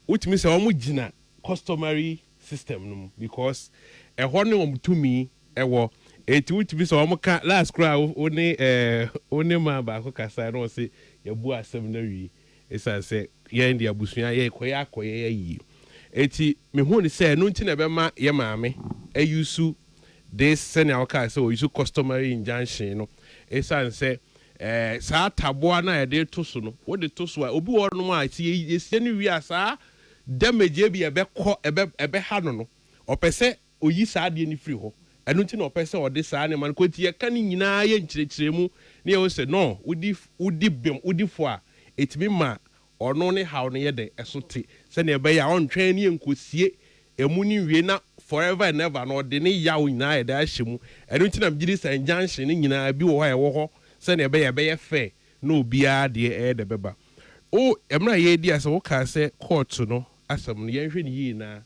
wotumi sɛ wɔn gyina customary system no mu because ɛhɔ ne wɔn tumi ɛwɔ eti wotumi sɛ wɔn ka last koraa wo ne ɛɛ wo ne maa baako kasa na ɔse yɛbu asɛm no awie. Esiane sɛ yɛn de abusua a yɛrekɔyɛ akɔyɛ yɛ yiye nti, mihu no sɛ ɛno nti na ɛbɛma yɛn maame ayusu this sɛnea ɔkae sɛ ɔyusu customary injunction no. Esiane sɛ ɛɛ saa taboa no a yɛde reto so no, wode to so a, obi wɔ hɔnom a sɛ yɛsie no wie a, saa damage a ebia ɛbɛkɔ ɛbɛ ɛbɛha no no, ɔpɛ sɛ Oyi saa adeɛ no firi hɔ. Ɛno nti na ɔpɛ sɛ ɔde saa nneɛma no kɔ. Nti yɛka ne nyinaa yɛ nkyerɛkyerɛmu ne yɛhu sɛ no, wodi wodi bem, wodi fɔ a, ɛtumi ma ɔno ne haw no yɛ dɛ? Ɛso te. Sɛdeɛ ɛbɛyɛ a ɔntwɛn ne yɛnkɔsie ɛmu no nwie na forever and ever no ɔde ne yaw nyinaa ayɛ dɛ ahyɛ mu. Ɛno nti na megye di sɛ injunction no nyinaa bi wɔ hɔ a ɛwɔ hɔ sɛdeɛ ɛbɛyɛ a ɛbɛyɛ fair na obiara deɛ ɛyɛ dɛ bɛba. O, mmerɛ a yɛredi ase no, wokaa sɛ kɔɔto no asɛm no, yɛnhwɛ no yie na.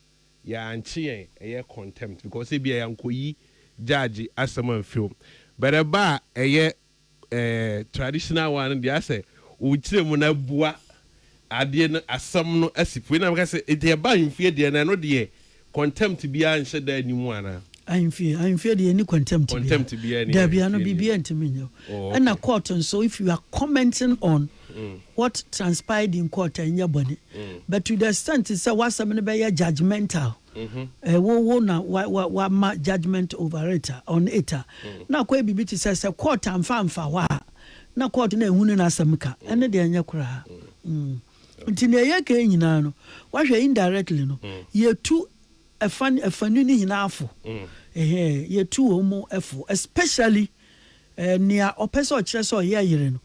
Yɛankye yɛn ɛyɛ contempt because ebia yɛankɔyi judge asɛm amfiri hɔ but ɛba a ɛyɛ eh, traditional one no deɛ asɛ wokyerɛ mu no abua adeɛ no asɛm no asi po. Ɛna meka sɛ nti ɛba ahemfie deɛ no ɛno deɛ contempt biara nhyɛ da nni mu anaa? Ahemfie ahemfie
deɛ ɛnni contempt biara. Contempt biara nni Daabi,
ano ahemfie deɛ. biribiara ntumi
nyɛ wo. Oh, Ɛna okay. court nso if you are commenting on What transpired in court ɛnyɛ bɔne but to the extent sɛ w'asɛm no bɛyɛ judgemental, ɛɛ wo wo na wa wa wama judgement over it a on it a, na akɔyɛ biribi te sɛ sɛ court amfa amfa hɔ a na court no anhunu n'asɛm ka, ɛno deɛ ɛnyɛ koraa. Mm. Nti nea yɛka yi nyinaa no, wahwɛ indirectly no, yɛtu ɛfa afanu no nyinaa fo. Ɛhɛɛ, yɛtu wɔn mu fo especially nea ɔpɛ sɛ ɔkyerɛ sɛ ɔyɛ yere no.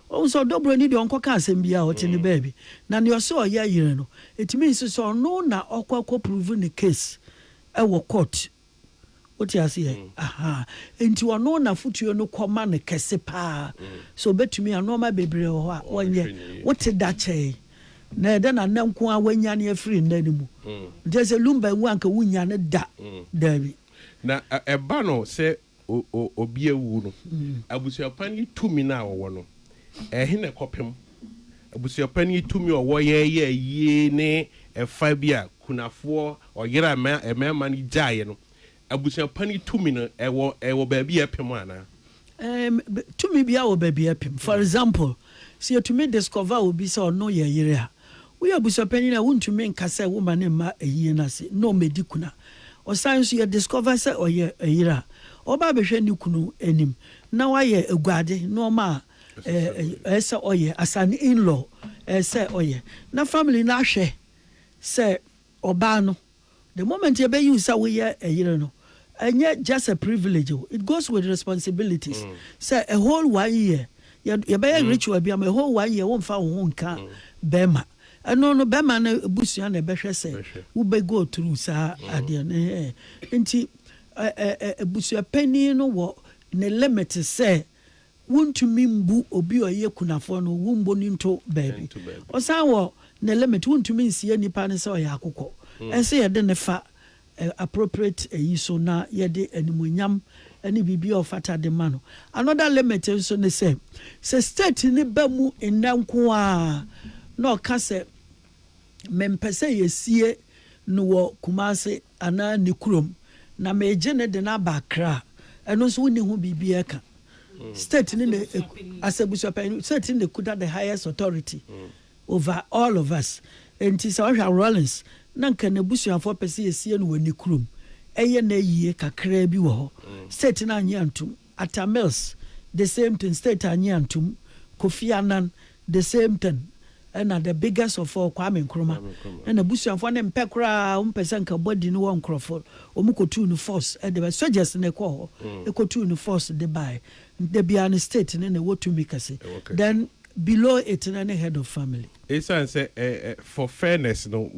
Wohu sɛ ɔdɔ buroni deɛ ɔnkɔka asɛm biara a ɔte ne baabi. Na nea ɔse ɔyɛ yere no, ɛtumi nso sɛ ɔno na ɔkɔ akɔ prove ne case wɔ court. Wote aseɛ? Ahaa. Enti ɔno na afotuo no kɔ ma no kɛse paa. So ɔbɛtumi a, nnoɔma bebree wɔ hɔ a ɔnyɛ. Wote da kyɛe. Na ɛdɛ na nnɛ nko ara wanyane afiri nna no mu. Nti ɛsɛ Lumba nwu anka wonnya no da. Daabi. Na
ɛba no sɛ obi awu no, abusuapan yi tumi no a wɔwɔ no, ɛhe na ɛkɔpem? Abusuapan yi tumi a wɔwɔ yɛ yɛ ayie ne ɛfa bi a kunafoɔ, ɔyere a mmarima no gyaeɛ no, abusuapan yi tumi no, ɛwɔ ɛwɔ baabi a ɛpem anaa? Ɛɛm,
tumi biara wɔ baabi a ɛpem. For example, sɛ yɛtumi discover obi sɛ ɔno yɛ yere a, Woyɛ abusuapanyin a, wuntumi nka sɛ woma ne mma ayiyɛ no ase na wɔadi kunu a ɔsan nso yɛ discover sɛ ɔyɛ yere a ɔba abɛhwɛ ne kunu anim na wayɛ aguade nneɛma a ɛsɛ sɛ ɔyɛ as an in-law, ɛsɛ sɛ ɔyɛ na family no ahwɛ sɛ ɔbaa no. The moment yɛbɛ use sɛ woyɛ ɛyere no, ɛnyɛ just a privilege o, it goes with responsibilities. Sɛ a whole one year yɛ yɛbɛyɛ ritual bi ama a whole one year wo nfa wo ho nka bɛɛma. Ɛno no bɛɛma no abusua na ɛbɛhwɛ sɛ wo bɛ go through saa adeɛ no ɛhɛɛ. Nti ɛ ɛ ɛ abusuapanin no wɔ ne limit sɛ Wontumi mbu obi a ɔyɛ kunafoɔ no, wommɔ no nto baabi. Ɔsan wɔ ne limit, wontumi nsie nipa no sɛ ɔyɛ akokɔ. Ɛnsɛ yɛde no fa appropriate ayi so na yɛde animuonyam ne biribiara a ɔfata de ma no. Another limit nso ne sɛ, sɛ state no ba mu nnɛ nko ara na ɔka sɛ mempɛ sɛ yɛsie no wɔ Kumasi, anaa ne kurom na meegye no de no aba Accra a, ɛno nso wonni ho biribi reka. State no na ɛk, as abusuapanyin, state no na ɛkuta the highest authority over all of us. Enti sɛ wohwɛ a, Rawlings na anka n'abusuafoɔ pɛ sɛ yɛsie no wɔ ne kurom. Ɛyɛ no ayie kakraa bi wɔ hɔ. State no annye antom. Atta Mills the same thing, state annye antom, Kofi Annan the same thing, ɛna the biggest of all Kwame Nkrumah na n'abusuafoɔ no mpɛ koraa, wɔn pɛ sɛ nka body no wɔ nkorɔfoɔ, wɔn kɔtuu no force de bae, soldiers na ɛkɔɔ hɔ kɔtuu no force de bae, nti da biara no state no na ɛwɔ tumi kɛse, then below it no ne head of family. Ɛsiane sɛ
for fairness no,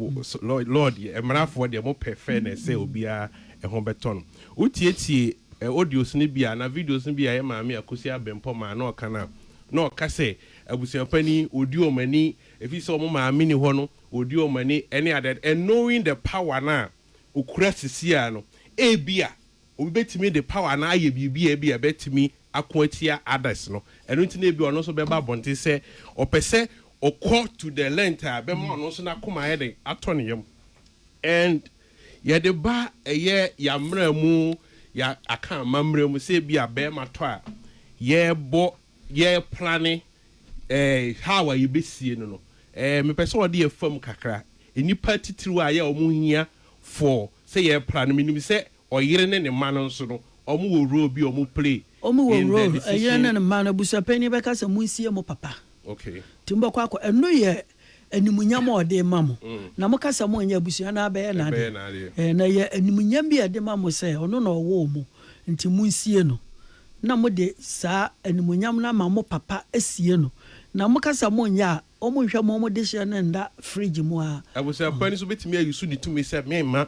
law deɛ, mmarafoɔ deɛ wɔpɛ fairness sɛ obiara ɛho bɛtɔ no. Wotietiee audios no bi a, anaa videos no bi a ɛyɛ Maame Akosua Abempɔ maa na ɔka no a, na ɔka sɛ, Abusuapanin, wɔdi wɔn ani, ɛfiri sɛ wɔn maame nni hɔ no, wɔdi wɔn ani, ne adeade. And knowing the power no a ɔkura seesei no, ebia obi bɛtumi de power no ayɛ biribi a ebia ɛbɛtumi ako atia others no. Ɛno nti na ebia ɔno nso bɛba abɔnten sɛ ɔpɛ sɛ ɔkɔ to the length a ɛbɛma ɔno nso n'akoma ayɛ dɛn? Atɔ ne yam. And. Yɛde ba ɛyɛ y'amera mu yɛ aka amammerɛ mu sɛ ebia bɛɛma tɔ a yɛɛbɔ yɛɛ plane ɛɛ how a yɛbɛsie no no ɛɛ mepɛ sɛ ɔde yɛ fam kakra nnipa atitiriw a yɛ ɔmo hia for sɛ yɛɛ plane menim sɛ ɔyere ne ne mma no nso no ɔmo wɔ role bi a ɔmo play Ɔmo wɔ in the role
ɛyere decision. ne ne mma no abusuapanyin bɛka sɛ monsie mo papa Okay. nti mobɛkɔ
akɔ ɛno
yɛ Animuonyam a ɔde rema mo, na moka sɛ monyɛ abusua no ara bɛyɛ n'adeɛ. Na ɛyɛ animuonyam bi a ɛde ma mo sɛ ɔno na ɔwoo mo, enti monsie no, na mode saa animuonyam no ama mo papa sie no. Na moka sɛ monyɛ a, wɔnhwɛ mo dehyeɛ no nna fridge mu ara. Abusua pa ni nso bɛtumi
ayi so ne tumi sɛ, Meremma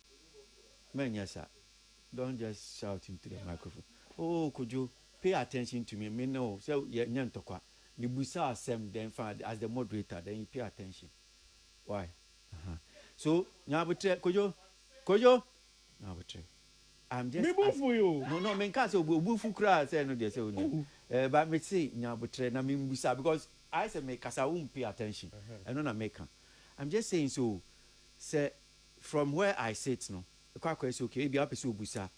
Mɛ nyɛ saa. Don't just shout into the microphone. Oh Kojo, pay attention to me, me ne wo sɛ yɛ nyɛ ntɔkwa. Me busa wo asɛm then fine as the moderator then you pay attention. Why? Uh-huh. So, Nyabotrɛ, Kojo, Kojo, Nyabotrɛ. I'm just Me bufu yo. No, no,
me nka sɛ obu obu
fu kura sɛ no deɛ sɛ wo nyɛ. Eh, but me se Nyabotrɛ na me mbusa because ayɛ sɛ me kasa wo pay attention. Ɛno na me ka. I'm just saying so sɛ From where I sit no, ɛkɔ akɔyɛ sɛ okay, ebia wopɛ sɛ wobisa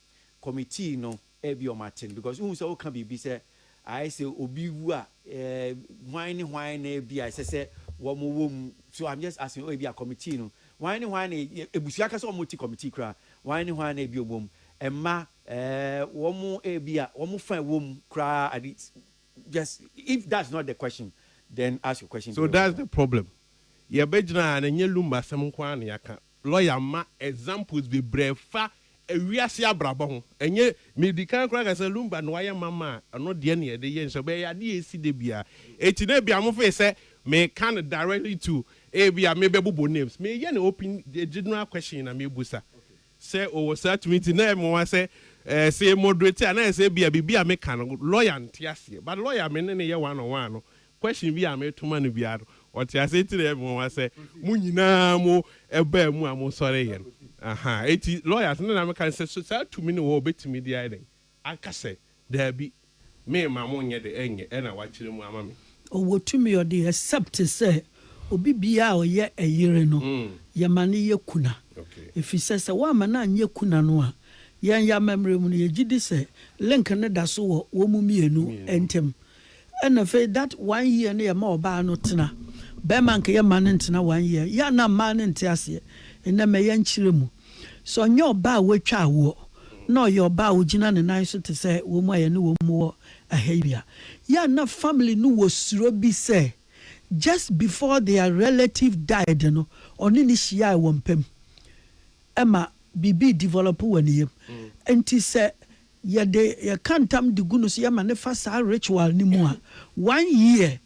committee no, ebia wɔate no because wohu sɛ woka biribi sɛ ayɛ sɛ obi wu a, eh, hwan ne hwan na ebia ɛsɛ sɛ wɔwɔ mu? So I'm just asking, oh, ebia committee no, hwan ne hwan na e-, abusua ankasa a wɔte committee koraa, hwan ne hwan na ebia wɔwɔ mu? Mma, eh, wɔn ebia wɔn fa a ɛwɔ mu koraa, ade, Just if that's not the question then ask your question. So that's the problem
yɛbɛgyina ha no ɛnyɛ Lumba asɛm nko ara na yɛaka lawyer mma examples bebree ɛfa wiase abrabɔ ho ɛnyɛ medi kan koraa aka sɛ Lumba na wayɛ ma ma ɛno deɛ na yɛde yɛ nso ɛbɛyɛ yɛ adeɛ a ɛsi da biara ɛti na ebia mofee sɛ meka no directly to ebia mebɛbobɔ names meyɛ no open general question na mebusa. Sɛ ɔwɔ saa tumi nti na ɛyɛ me nwa sɛ eh, sɛ yɛ moderate a na ayɛ sɛ ebia biribi a meka no lawyer nte aseɛ but lawyer a me ne no yɛ one on one no question bi a meto ma no biara no ɔte aseɛ nti na ɛyɛ me nwanwa sɛ mo nyinaa mo baa mu a mo sɔreeɛ no. Ahaa, enti lawyers no na meka no sɛ so saa tumi no wɔ a ɔbɛtumi de ayɛ dɛn Aka sɛ, Daabi, meremma mo nyɛ de ɛnyɛ ɛna wakyerɛ mu ama me. Ɔwɔ tumi ɔde
except sɛ obi biaa a ɔyɛ ɛyere no yɛma no yɛ kuna efisɛ sɛ woamma no anyɛ kuna no a yɛn yɛ amammerɛ mu no yɛgyedi sɛ link no da so wɔ wɔn mmienu ɛntɛm. Ɛna afei that one year no yɛ ma ɔbaa no tena. Bɛɛma nka yɛ mma no ntena one year. Yɛ a na mmaa no nte aseɛ. Nnɛ mɛ yɛ nkyerɛ mu. Sɛ ɔnyɛ ɔbaa a watwa awoɔ na ɔyɛ ɔbaa a ɔgyina ne nan so te sɛ wɔn a yɛne wɔn mu wɔ ɛha yi a, yɛ a na family no wɔ suro bi sɛ just before their relative died no ɔne no hyiaɛ wɔ mpam ɛma biribi develop wɔ ne yam. Nti sɛ Yɛde yɛka ntam de gu no so yɛ ma no fa saa ritual no mu a, one year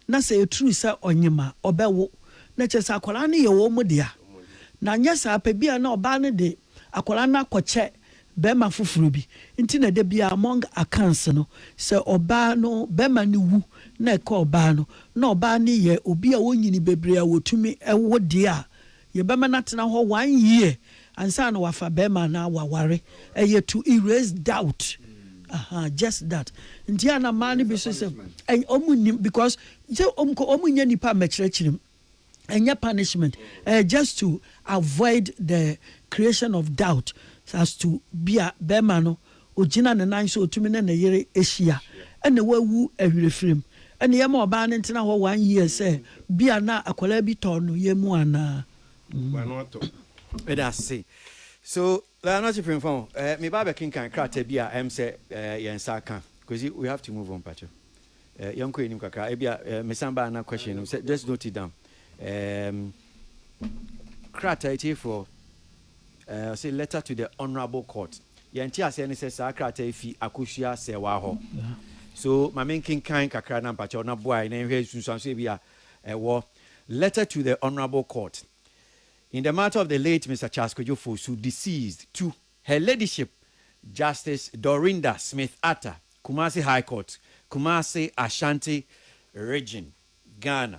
na sɛ ɛturu sɛ ɔnyem a, ɔbɛwo. Na kyerɛ sɛ akwadaa no yɛ wɔn dea. Na anyɛ saa pɛ, bi a na ɔbaa no de akwadaa no akɔkyɛ barima foforɔ bi. Nti na da biara among accounts no, sɛ ɔbaa no, barima no wu na ɛka ɔbaa no, na ɔbaa no yɛ obi a ɔnyini bebree a wɔtumi wo deɛ a, Yɛbɛma no atena hɔ one year ansa na wafa barima anaa waware. Ɛyɛ to erase doubt aha just that. Nti a na mmaa no bi so sɛ wɔn nnim because sɛ wɔn kɔ wɔn nyɛ nipa mmɛkyerɛkyerɛ mu. Ɛnyɛ punishment. Ɛyɛ just to avoid the creation of doubt as to bi a barima no Ogyina ne nan so, otumi ne ne yere ahyia, ɛna wawu awerɛfirim. Ɛna yɛma ɔbaa no ntena hɔ one year sɛ bia na akwadaa bi tɔ no yɛn mu anaa. Hmm. Meda
ase. So na ɔte Premfa o. Eh, me ba bɛkenkan krataa bi a ɛm sɛ eh, yɛn nsa aka. Kwesi, we have to move on pacho. Eh, yɛn kɔ anim kakra. Ebia eh, me san ba na question no. Just note it down. Eh, krataa etiefoɔ. Ɛɛ, ɔse letter to the honourable court. Deɛ nte aseɛ ne sɛ saa krataa yi fi Akosua Serwaa hɔ. So ma me nkenkan kakra na mpakyɛw na boa yɛn na yɛnhwɛ nsunsuanso ebi a ɛwɔ Letter to the honourable court in the matter of the late Mister Charles Kwadwo Fosu deceased to Her Ladyship Justice Dorinda Smith Atta, Kumasi High Court, Kumasi, Ashanti Region, Ghana.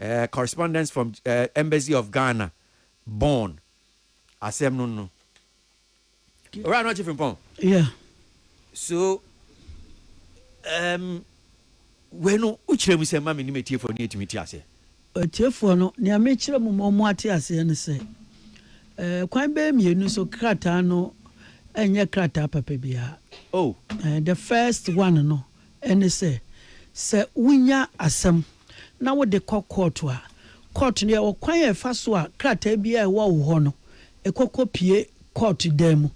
eh, correspondence from eh, Embassy of Ghana, Bonn. Asɛm no no. Owura no ɔkye frimpɔn. Yeah. So,
um,
wei no, wokyerɛ mu sɛ ma me ne m'atiefoɔ no yɛtumi te aseɛ. Atiefoɔ no,
nea mekyerɛ mu ma wɔn ate aseɛ ne sɛ, eh, kwan bɛyɛ mmienu so krataa no ɛnyɛ krataa papa biara. Oh. Eh,
the first
one no, Ɛne sɛ, sɛ wonya asɛm na wode kɔ kɔɔto a, kɔɔto no yɛ ɔkwan a ɛfa so a krataa biara a ɛwɔ wo hɔ no, ɛkɔ kɔpue kɔɔto dan mu.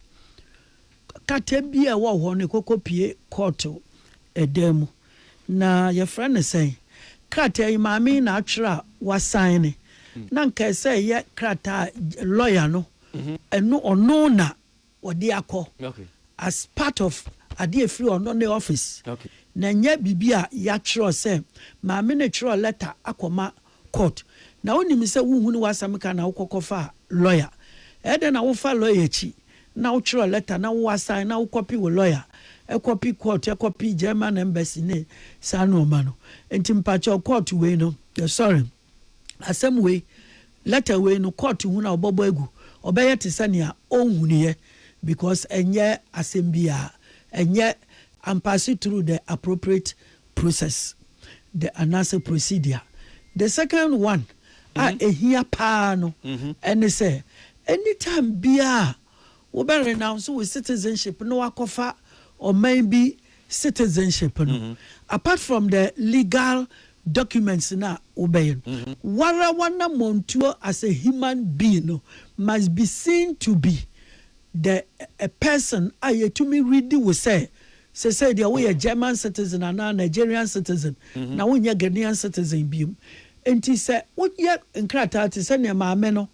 Krataa biara a ɛwɔ wo hɔ no, ɛkɔ kɔpue kɔɔto dan mu. Na yɛfrɛ no sɛn? Krataa yi, maame yi na atwerɛ a wasaene. Na anka ɛsɛ sɛ ɛyɛ krataa a lɔya no, ɛno, ɔno na wɔde akɔ as part of adeɛ a ɛfiri ɔno ne office na ɛnyɛ biribi a yɛatwerɛ sɛ maame no twerɛ letter akɔma court na wonim sɛ wohunu w'asɛm ka na wokɔ kɔfa lawyer ɛdɛn na wofa lawyer akyi na wotwerɛ letter na wo assign na wokɔpe wo lawyer ɛkɔpe court ɛkɔpe German embassy ne saa nnoɔma no nti mpakyɛw court wei no sorry. Asɛm wei, letter wei no, court hunu a wɔbɛbɔ agu, ɔbɛyɛ te sɛ nea ɔnhunuiɛ because ɛnyɛ asɛm biara, ɛnyɛ ampaase through the appropriate process the anaasɛ procedure. The second one a ɛhia paa no ɛne sɛ, anytime biara a. Wobɛ renounce wo citizenship na wakɔfa ɔman bi citizenship no, apart from the legal documents no a wobɛyɛ no, woara w'anamɔntuo as a human being no must be seen to be the a person a yɛtumi readi wo sɛ sesei deɛ woyɛ German citizen anaa Nigerian citizen na wonyɛ Ghanaian citizen biom. Nti sɛ woyɛ nkrataa te sɛ neɛ maame no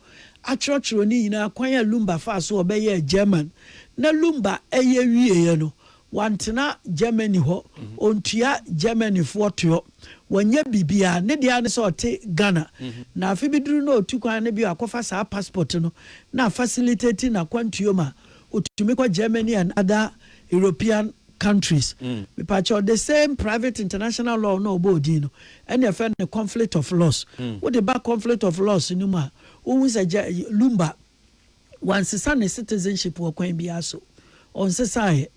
akyerɛkyerɛw ne nyinaa kwan a Lumba faa so a ɔbɛyɛɛ German. Na Lumba reyɛ wieeɛ no, wantena Germany hɔ, ɔntua Germanyfoɔ toɔ, wanyɛ biribiara, ne deɛ ara ne sɛ ɔte Ghana. Na afe bi duru na ɔtu kwan no bio akɔfa saa passport no na a facilitate n'akwantuo ma ɔtumi kɔ Germany and other European countries mepakyɛw the same private international law na ɔbɔɔ din no ɛna ɛfɛ no conflict of laws wode ba conflict of laws no mu a wohu sɛ gya lumba wansesa ne citizenship wɔ kwan biara so ɔnsesaeɛ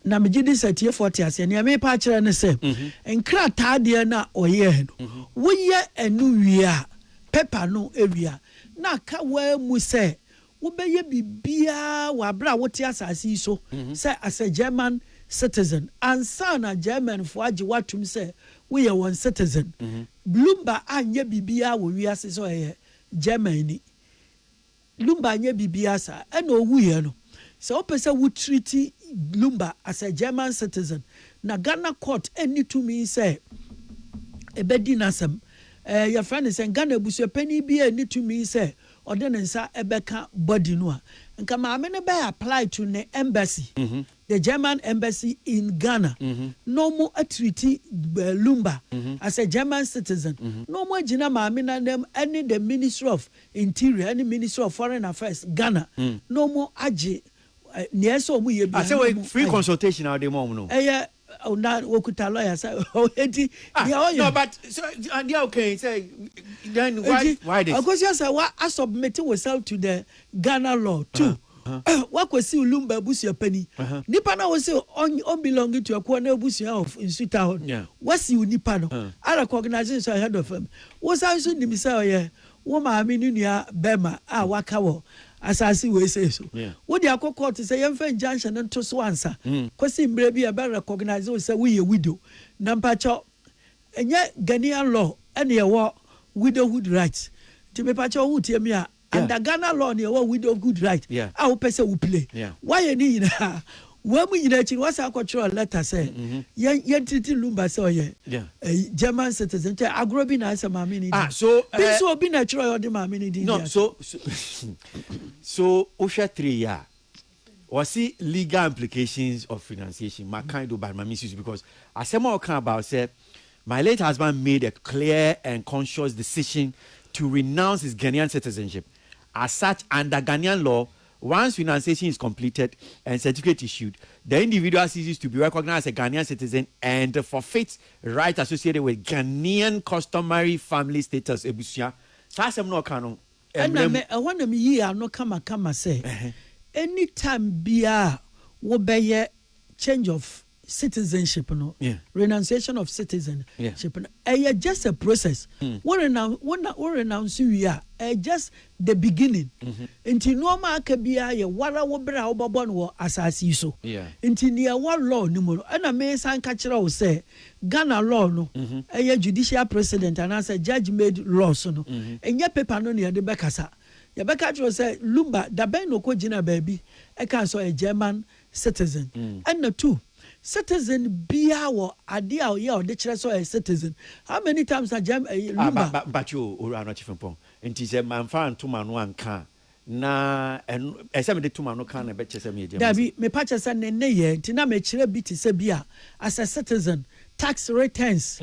na megye di sɛ tiefoɔ te aseɛ nea mepa akyerɛ ne sɛ nkrataa deɛ no a ɔyɛɛ no woyɛ ɛno wie a pɛpa no wie a na aka waa mu sɛ Wobɛyɛ biribiara wɔ aberɛ a wote asase yi so sɛ asɛ German citizen ansa na Germanfoɔ agye wo atom sɛ woyɛ wɔn citizen. Lumba anyɛ biribiara wɔ wiase sɛ ɔyɛ Germanni. Lumba anyɛ biribiara saa. Ɛna ɔwuiɛ no, sɛ wopɛ sɛ wo treati Lumba asɛ German citizen na Ghana court nni tumi sɛ ɛbɛdi n'asɛm. Ɛɛ yɛfrɛ no sɛn? Ghana abusuapanin biara nni tumi sɛ ɔde ne nsa bɛka body no a nka maame no bɛ apply to ne embassy, the German embassy in Ghana na ɔmo treat Lumba as a German citizen na ɔmo agyina maame no anam ɛne the ministry of interior ɛne ministry of foreign affairs Ghana na ɔmo agye nea ɛsɛ ɔmo yɛ biara
na ɔmo ayɛ. Ɛyɛ Oh, na
wɔkuta lawyer sɛ ɔdi ah, deɛ ɔyɛ.
no but so adeɛ a wokan sɛ then why Eti, why this akosua sɛ wa
asubmit yourself to the Ghana law too. Wakɔsi Lumba abusua pani. Uh-huh. Nipa na wɔsi ɔn ɔn belong to ɛkoɔ na abusua of nsuta hɔ no. Yeah. Wasi wo nipa no. Uh. A recognizing sɛ ɔyɛ head of family. Wosan nso nim sɛ ɔyɛ Wo maame ne nua barima a waka wɔ asase wei sei so. Wo de akɔ kɔɔto sɛ yɛmfa injunction no nto so ansa kɔsi mmerɛ bi a yɛbɛ recognise wo sɛ woyɛ widow. Na mpakyɛw, ɛnyɛ Ghanaian law ɛna ɛwɔ widowhood right. Nti mepakyɛw wo tie me a, under Ghana law na yɛwɔ widowhood right a wopɛ sɛ wo play. Woayɛ ne nyinaa, Wei mu nyinaa akyi no, wasan kɔtwerɛɛ lɛta sɛ, Yɛn, yɛntreati Lumba sɛ ɔyɛ ɛyi, German citizen. Nkyɛ agorɔ bi na ayɛ sɛ maame no din. Bi nso obi
na ɛtwerɛeɛ
ɔde maame no din dii ato.
So wohwɛ three yi a, wɔse legal implications of renunciation, makan do but ma mensi so because asɛm a ɔka about sɛ My late husband made a clear and conscious decision to renounce his Ghanaian citizenship. As such, under Ghanaian law, Once renunciation is completed and certificate issued, the individual ceases to be recognized as a Ghanaian citizen and forfeits rights associated with Ghanaian customary family status, abusua. Saa asɛm no a ɔka no, ɛna mmra mu. me, ɛhɔ na
me yii ano kamakama sɛ, any time biara a wo bɛyɛ change of. citizenship no renunciation of citizen yeah. ship no ɛyɛ just a process mm. wo renounce wo na wo renounce wie a ɛyɛ just the beginning mm -hmm. nti nneɛma aka biara yɛ wara wo bere a wobɛbɔ no wɔ asase yi so yeah. nti deɛ ɛwɔ law no mu no ɛna mesan ka kyerɛ wo sɛ ghana law no ɛyɛ mm -hmm. judicial precedent anaasɛ judge made law so no ɛnyɛ mm -hmm. paper no na yɛde bɛkasa yɛbɛka kyerɛ sɛ lumba dabɛn na ɔkɔ gyina baabi ɛka sɛ ɔyɛ german citizen ɛna two citizen biaa wɔ adeɛ a ɔyɛ a ɔde kyerɛ sɛ ɔyɛ citizen how many times na gyɛm ɛyi Ah, lumba. ba, mpakyɛ o, Owura
Anokye Frimpong, nti sɛ manfa anto m'ano anka a, na ɛno, ɛsɛ sɛ mede to m'ano ka a na ɛbɛkyerɛ sɛ meyɛ Gyɛma Daabi, citizen? mepa kyɛ sɛ ne
nneyɛɛ nti na mekyerɛ bi te sɛ bi a as a citizen, tax returns,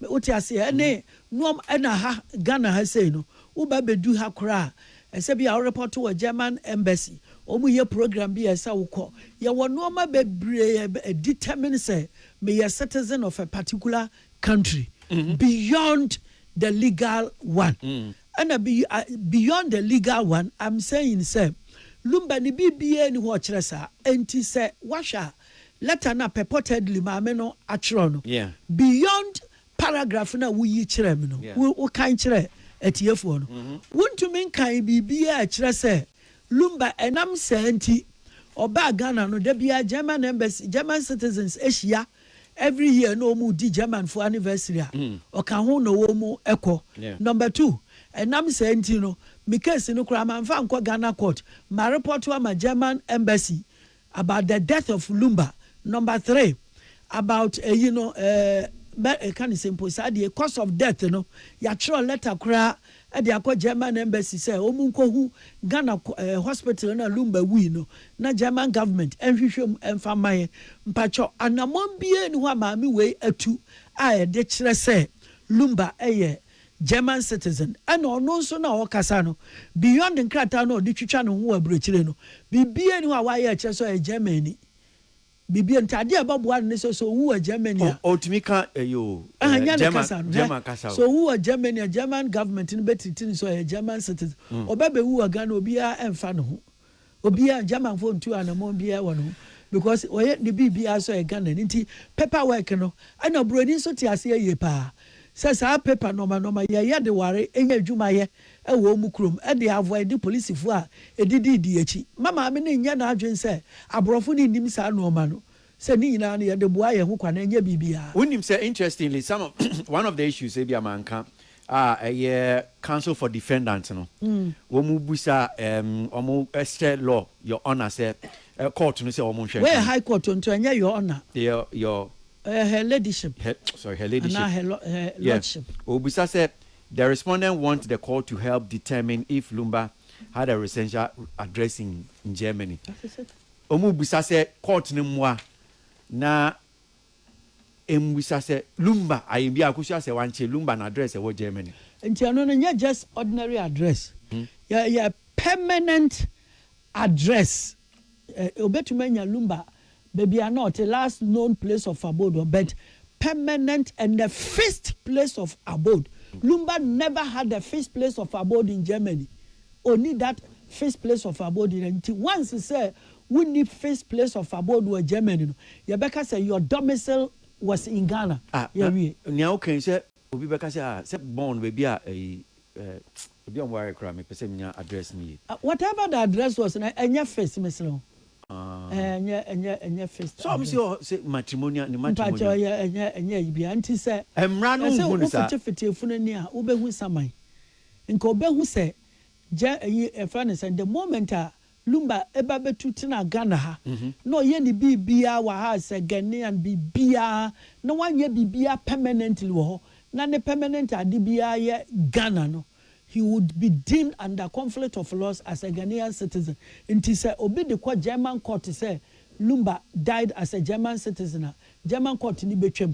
wote aseɛ, ɛne nnoɔma, ɛna ha, Ghana ha sei no, woba bɛdu ha koraa a, Ɛsɛ bia wo report wɔ German embassy ɔmu yɛ program bi a ɛsɛ wo kɔ yɛ wɔ nnoɔma bebree a determine sɛ me yɛ citizen of a particular country beyond the legal one ɛna beyond the legal one I'm saying sɛ lumba ne biribiaa ni hɔ ɔkyerɛ saa ɛnti sɛ wahwɛ a letter no a purportedly maame no atwerɛ no beyond paragraph no a woyi kyerɛɛ me no, wokan kyerɛɛ atiefoɔ no. Wontumi nkan biribiara a ɛkyerɛ sɛ Lumba, ɛnam saa nti, ɔbaa Ghana no, da biara German Embassy, German citizens hyia every year na wɔredi Germanfoɔ anniversary a, ɔka ho na wɔkɔ. Number two, ɛnam saa nti no, me case no koraa, mamfa ankɔ Ghana court, marepɔto ama German Embassy. About the death of Lumba. Number three, about ɛyi no ɛɛ eh, ɛka ne sɛ mpo saa deɛ cause of death no yɛatwerɛ letter koraa ɛde akɔ German embassy sɛ wɔn nkɔhu Ghana eh, hospital na Lumba wui no na German government ɛnhwehwɛ mu ɛnfa mma yɛ mpakyɛ anamɔn bie ni hɔ a maame wei atu a ɛde kyerɛ sɛ Lumba ɛyɛ eh, German citizen, ɛna ɔno nso no a ɔrekasa no, beyond nkrataa no a ɔde twitwa ne ho wɔ aburokyire no, biribiara nni hɔ a wayɛ a ɛkyerɛ sɛ ɔyɛ Germanni. Biribiara nti, adeɛ a ɛbɛboa no ne sɛ, sɛ ɔwu wɔ Germany a. Ɔ, ɔtumi ka ɛyi o,
Ɛhɛ, ɛɛ, nyɛ ne German, kasa no, hwɛ. German kasa Sɛ o. ɔwu wɔ Germany a,
German government no bɛtiriti no sɛ ɔyɛ German citizen. Ɔbɛbɛwu wɔ Ghana a, obiara mfa ne ho. Obiaa German foɔ ntuu anamɔn biaa wɔ ne ho because ɔyɛ ne biribiaa so yɛ Ghana ni nti paper work no ɛna broni nso te aseɛ yie paa sɛ saa paper nɔɔma nɔɔma yɛ yɛ de ware nya adwuma yɛ wɔ wɔn kurom de avoide polisifoɔ a ɛdidi di akyi ma maame no nyɛ n'adwene sɛ aborɔfo no nnim saa nɔɔma no Sɛ ne nyinaa no yɛde boa yɛn ho kwa no ɛnyɛ biribiara. Wonim sɛ interestingly
some of one of the issues ebia manka a ɛyɛ counsel for defendant no wɔn busa ɛɛm wɔn ɛhyɛ law your honour sɛ ɛ court no sɛ wɔn nhwɛ Wei yɛ high court o nti ɛnyɛ
your honour your
your ɛyɛ her
ladyship her sorry her anaa ladyship
her lɔ her yeah
lordship. obusa sɛ
the respondent want the court to help determine if Lumba had a residential address in Germany. That is it. Wɔrebisa sɛ court no mmoa na ɛmmisa sɛ Lumba ayɛ biara kosua sɛ wankyere Lumba no address ɛwɔ Germany. Nti ɛno no nyɛ
just ordinary address, ɛyɛ permanent address. Ɔbɛtumi anya Lumba baabi a na ɔte, last known place of abode hɔ, but permanent and a fixed place of abode. Lumba never had a fixed place of abode in Germany. Onni that first place of abode no nti once sɛ wonni first place of abode wɔ Germany no yɛbɛka sɛ your domicile was in Ghana. Ah na Yɛawie. nea wo ka
yi sɛ obi bɛka sɛ ah sɛ born baabi a ɛyi eh obi a ɔmo ware koraa mepɛ sɛ menya address no yie. Ah whatever the address
was no ɛnyɛ first mesrɛ wo Ah. eh ɛnyɛ ɛnyɛ ɛnyɛ first Sɛ ɔmo se address. ɔhɔ sɛ
matrimonial ne Mpakyɛ matrimonial. ɔyɛ ɛnyɛ ɛnyɛ ayi biara
nti sɛ Ɛmmra no yɛse nhu no
saa. wofetefete efunu ani a
wobɛhu saman Nka ɔbɛhu sɛ gya ɛyi yɛfrɛ no sɛn the moment a Lumba ɛba bɛtu tenaa Ghana ha na ɔyɛ ne biribiara wɔ ha as a Ghanaian biribiara na wanyɛ biribiara permanently wɔ hɔ na ne permanent ade biara yɛ Ghana no he would be deemed under conflict of laws as a Ghanaian citizen nti sɛ obi de kɔ German court sɛ Lumba died as a German citizen a German court no bɛtwam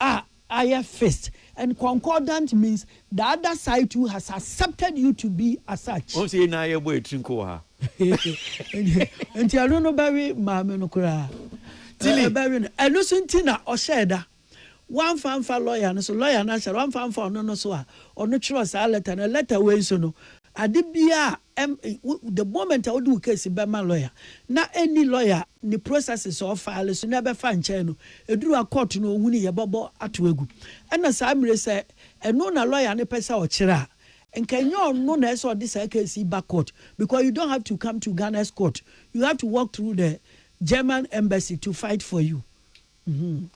A ayɛ fist and concordant means the other side too has accepted you to be asuch. Wɔn sɛ yɛn nyinaa yɛbɔ yɛn tiri
nko wɔ ha.
Nti ɛno no bɛwe maame no koraa. Tilly. Ɛbɛwe no. Ɛno nso nti na ɔhyɛɛ da. Wamfa amfa lɔya no so. Lɔya no ahyɛ da. Wamfa amfa ɔno no so a ɔno twerɛɛ saa lɛta no. Lɛta wei nso no, Ade biaa a ɛm wo the moment a wode wo case bɛma lawyer na ɛnni lawyer a ne processes a ɔfile so na ɛbɛfa nkyɛn no, ɛduru a court no ɔhu no yɛbɛbɔ ato agu. Ɛna saa mmire sɛ ɛno na lawyer no pɛsɛ ɔkyerɛ a, nka ɛnyɛ ɔno na ɛsɛ ɔde saa case yi ba court because you don't have to come to Ghana's court, you have to walk through the German embassy to fight for you. Mm-hmm.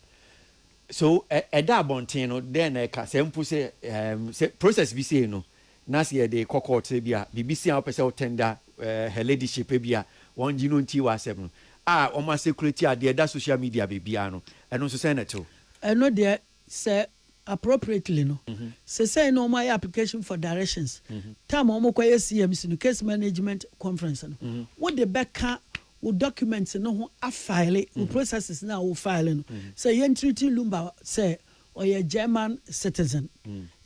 So
ɛda abɔnten no dɛn na ɛka sɛ mpo sɛ ɛm sɛ process bi sei no Na sɛ yɛde kɔ court sɛ ebia biribi si a wopɛ sɛ wo tender her ladyship ebia wɔngye no ntie w'asɛm no a wɔn a circulate adeɛ ɛda social media baabiara no, ɛno nso sɛn na ɛtew? Ɛno deɛ
sɛ appropriately no, sesei no wɔayɛ application for directions, time a wɔkɔyɛ CMC no, Case Management Conference no, wode bɛka wo documents no ho afile wo processes no a wo file no sɛ yɛntreati Lumba sɛ Ɔyɛ German citizen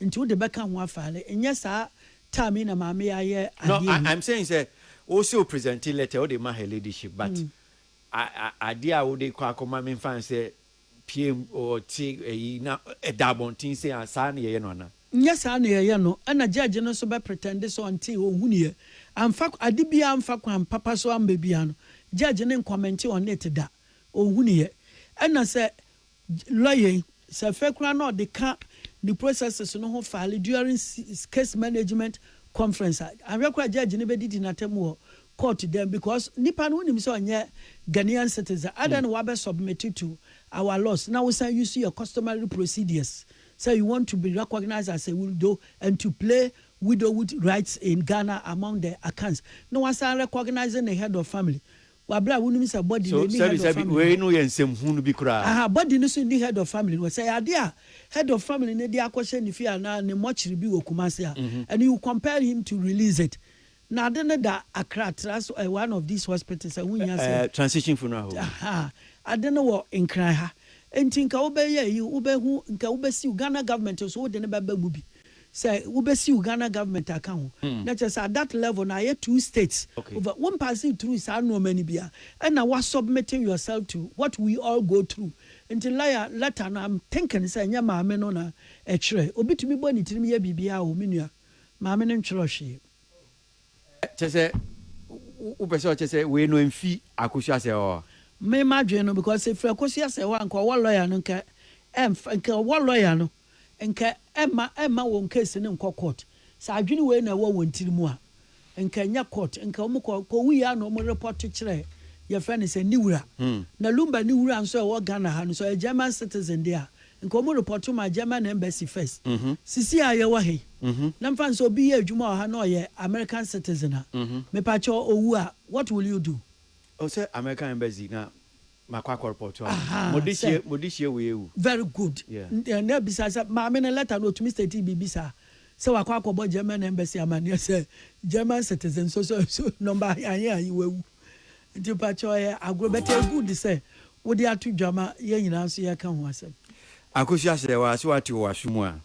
nti wode bɛka ho afaale nyɛ saa time yi na maame yi ayɛ adeɛ wei. No I'm saying sɛ
wose wo present letter wode ma her ladyship but adeɛ a wode kɔ akɔma me nfa nsɛ pm ɔte ayi na ɛda abɔnten sei a saa na yɛyɛ no anaa? Nyɛ saa na yɛyɛ
no ɛna judge no nso bɛ pretend sɛ ɔntee ɔnhuniiɛ amfa ade biara amfa kwan papa so amma biara no judge no nkɔmɛnte on it da ɔnhuniiɛ ɛna sɛ Lɔya yi, sɛ afei koraa na ɔde ka ne processes no ho file during case management conference a, anhwɛ koraa judge no bɛdidi n'atam wɔ court dan mu because nipa no wonim sɛ ɔnyɛ Ghanaian citizen, adɛn na wabɛ submit to our laws na wosan use your customary procedures sɛ you want to be recognised as a widow and to play widowhood rights in Ghana among the Akans na wasan recognise ne head of family wɔ aberɛ a wonim sɛ body no ɛnni head of family no. So sɛbi sɛbi
wei no yɛ nsɛm hunu bi koraa. Aha body no so nni head of
family no hɔ, sɛ ɛyɛ adeɛ a head of family no de akɔhyɛ ne fie anaa ne mortuary bi wɔ Kumasi a, and you compel him to release it, na ade no da Accra tra so ɛyɛ one of these hospitals a ɛho nhia sɛ. Ɛɛ transition funeral home. Aha
ade no
wɔ Nkran ha, nti nka wobɛyɛ ayi wobɛhu nka wobɛsiw Ghana government nso wode no bɛba mu bi. Sɛ wo bɛ siw Ghana government aka ho na kyerɛ sɛ at that level no ayɛ two states over wo mpaase through saa nnoɔma no bi a ɛna wa submitting yourself to what we all go through nti lawyer letter no I'm thinking sɛ ɛnyɛ maame no na ɛtwerɛ obi tumi bɔ ne tirim yɛ biribiara o me nua maame no ntwerɛ hwee.
Kyɛ sɛ wo pɛ sɛ ɔkyɛ sɛ wei no ɛmfi Akosua Asɛewaa hɔ? Me m'adwene no
because ɛfiri Akosua Asɛewaa nka ɔwɔ lawyer no nka ɛmfa nka ɔwɔ lawyer no. nka ɛmma ɛmma wɔn case no nkɔ court, sɛ adwene wei na ɛwɔ wɔn tiri mu a, nka ɛnyɛ court, nka wɔn kɔ, kɔ wuiɛ a na wɔn report kyerɛ yɛfrɛ no sɛ ne wura, na Lumba ne wura nso a ɛwɔ Ghana ha no nso ɔyɛ German citizen deɛ a, nka wɔn report ma German embassy first, sisi a yɛwɔ ha yi, na mfa no sɛ obi yɛ adwuma wɔ ha na ɔyɛ American citizen a, mepakyɛw ɔwu a, what will you do? Ɔsɛ American
embassy na Makɔ akɔ report wɔn. Mo de hyie mo de hyie wei awu. Very good.
Yeah. Na ebisa sɛ maame no letter no otumi state biribi saa sɛ wakɔ akɔbɔ German embassy amaneɛ sɛ German citizen so so so number ahe ahe wawu. Nti mpakyɛ ɔyɛ agorɔ but ɛyɛ good sɛ wode ato dwa ma yɛn nyinaa nso yɛka ho asɛm. Akosua sɛ
wa sɛ wate wɔ w'aso mu a.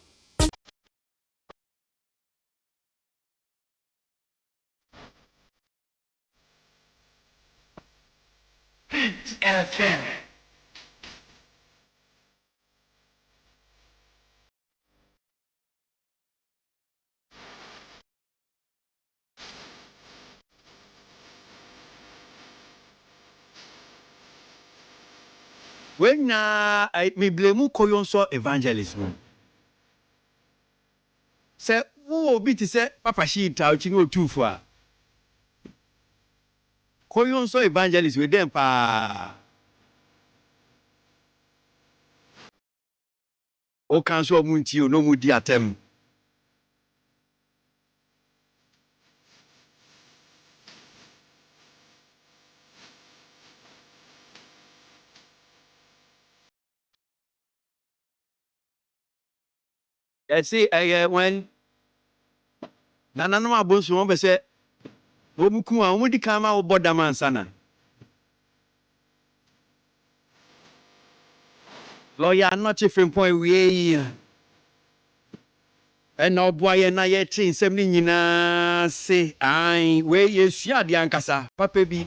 Hit FM.
Wei nyinaa ɛɛ me blame Koyonsɔ evangelist no. Sɛ wowɔ obi te sɛ Papa Shee Tao-chi ne Otumfo a, kɔ Yon Soo Evangelist wei dɛn paa. Woka nso a ɔmo ntie o na ɔmo di atɛm. Ɛse ɛyɛ wɛn nananom abonsom wɔn pɛ sɛ wɔn ku a wɔn di kan ma wobɔ dam ansa na lɔya anɔkye frimpɔn awie yi a ɛna ɔboa yɛn na yɛte nsɛm no nyinaa ase ae wei yɛsua adeɛ ankasa papa bi.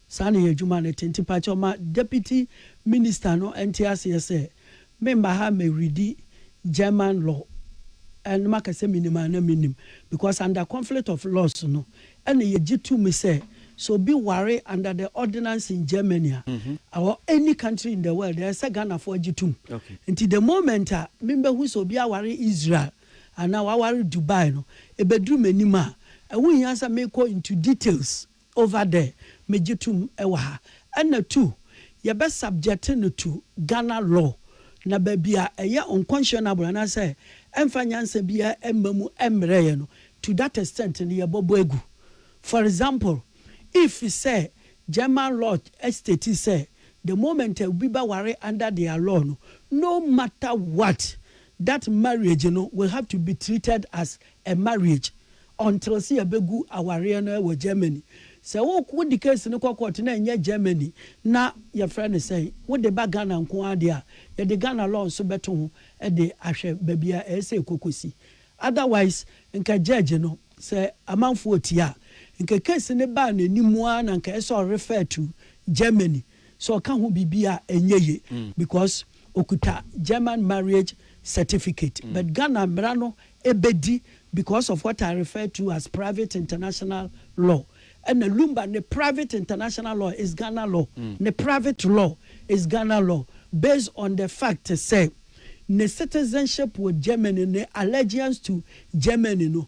Saa na yɛ adwuma no te nti pakyɛw ma Deputy Minister no nte aseɛ sɛ memma ha mɛ readi German law na maka sɛ menim anaa mennim because under conflict of laws no ɛna yɛgye to mu sɛ sɛ obi ware under the ordinance in Germany a or any country in the world ɛyɛ sɛ Ghanafoɔ agye tom nti the moment a membɛhu sɛ obi aware Israel anaa waware Dubai no ɛbɛduru m'anim a ɛho nhia sɛ mekɔ into details Over there megye tom wɔ ha. Ɛna two, yɛbɛ subject no to Ghana law na baabi a ɛyɛ unconscionable anaasɛ ɛmfa nyansa biara mma mu mmrɛ yɛ no to that extent no yɛbɔbɔ agu. For example, if sɛ German law state sɛ the moment a obi bɛware under their law no, no matter what, that marriage no will have to be treated as A marriage until sɛ yɛbɛgu awareɛ no wɔ Germany. Sɛ wo wode case no kɔ court na ɛnyɛ Germany na yɛfrɛ no sɛn, wode ba Ghana nko ara deɛ a, yɛde Ghana law nso bɛto ho de ahwɛ baabi a ɛyɛ sɛ ɛkɔkɔsi. Otherwise, nka judge no, sɛ amanfoɔ tie a, nka case no baa n'anim ara na nka ɛyɛ sɛ ɔrefer to Germany sɛ ɔka ho biribi a ɛnyɛ ye because ɔkuta German marriage certificate but Ghana mmara no bɛdi because of what I refer to as private international law ɛna Lumba ne private international law is Ghana law, ne private law is Ghana law based on the fact sɛ ne citizenship wɔ Germany ne allegiance to Germany no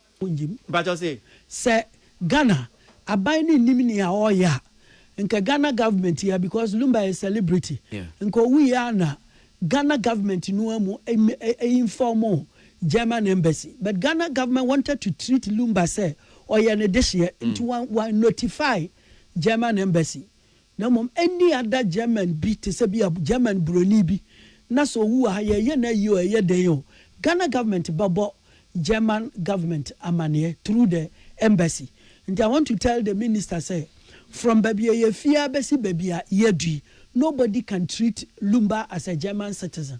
wonnyim. Mpakyɛw se. Sɛ
Ghana aban no nnim nea ɔreyɛ a, nka Ghana government yi ara because Lumba yɛ celebrity, nka owu yi ara na Ghana government no ara mu inform German embassy but Ghana government wanted to treat Lumba sɛ ɔyɛ ne dehyeɛ nti wɔannotify German embassy Na mmom ɛnni ada German bi te sɛ bi a German buroni bi na sɛ ɔwu wɔ ha yɛyɛ no ayie o ɛyɛ dɛn o Ghana government bɛbɔ German government amaneɛ through the embassy nti I want to tell the minister sɛ from baabi a yɛfie ara bɛsi baabi a yɛadu yi nobody can treat Lumba as a German citizen.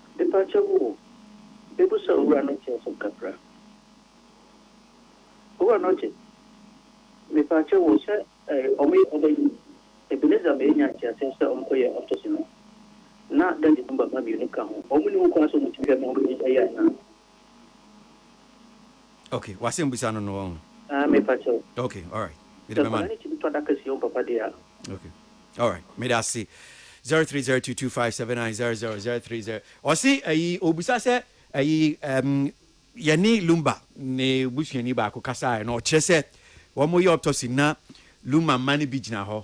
Mepakyɛ wo o, mebusa Owura Nɔkye asem kakra. Owura Nɔkye, mepakyɛ wo sɛ eh, ɔmo yɛ ɔba yi, Ebenezer ma yɛnya nteaseɛ sɛ ɔmo kɔ yɛ autopsy no, na Daddy no ba mma mmienu ka ho, ɔmo nni ho kwan sɛ ɔmo tumi hwɛ ma ɔmo yi ɛyɛ anaa?
Okay, w'asɛm busa no no wɔn. Ah, me pa kyɛw. Okay, alright. Mede bɛma
no. Sɛ nkwadaa
no tumi tɔ adaka
si wɔn papa deɛ
a. Okay. Alright, meda ase. 0302257900 030 ɔse ayi ɔbusa sɛ ayi um, yɛne lumba ne busuani baako kasaeɛ na ɔkyerɛ sɛ wɔn yɛ autopsy na lumba mma no bi gyina hɔ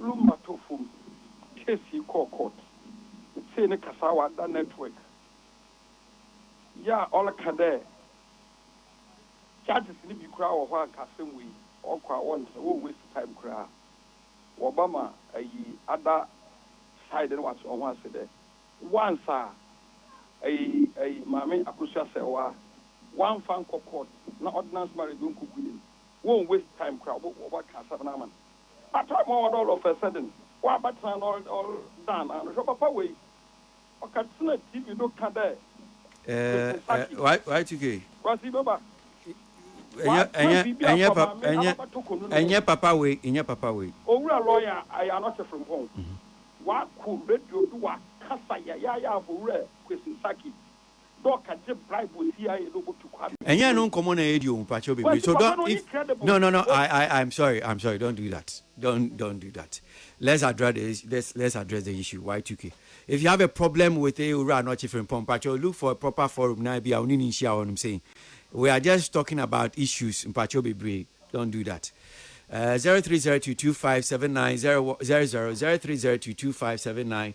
Lumba tɔ fam, case yi kɔɔ court, sei ne kasawa da network yi a ɔreka dɛ judges no bi koraa wɔ hɔ a nka asɛm wei ɔkɔ a wɔntra, wɔ waste time koraa, wɔba ma ayi ada side no wɔakyerɛ ho ase dɛ once a ayi ayi Maame Akosua Serwaa wɔamfa ankɔ court na ordinance marriage ɔnkɔgu no mu, wɔ waste time koraa wɔbɛka asɛm no ama no. Atra mu a ɔda all of a sudden ɔabɛtsena na ɔredan n'ano hwɛ papa wei ɔkɛtsena TV do ka dɛ Mr Sackey.
Eh YTK. Kwasi me ba. Ɔatra biribi afa
maame na
ɔabɛto konu no mu. Ɛnyɛ papa wei ɛnyɛ papa wei. Owura lɔya
Ayanote Frimpong ɔakɔ radio do ɔakasa yayaaya afa Owura Kwesi Sackey. dɛ ɔka gye bribe wɔ CIA dɛ obotu Kwame Nkrumah. Ɛnyɛ ɛno nkɔmmɔ na yɛredi
o, mpakyɛw bebree, so don't, if, no, no, no, I, I, I'm sorry, I'm sorry, don't do that, don't, don't do that, let's address the issue, let's, let's address the issue, Y2K, if you have a problem with eh, Owura Anɔkye Frimpong, mpakyɛw look for a proper forum na ebia wo ne no nhyia hɔnom sei, we are just talking about issues, mpakyɛw bebree, don't do that. Uh, 0302257900, 0302257900.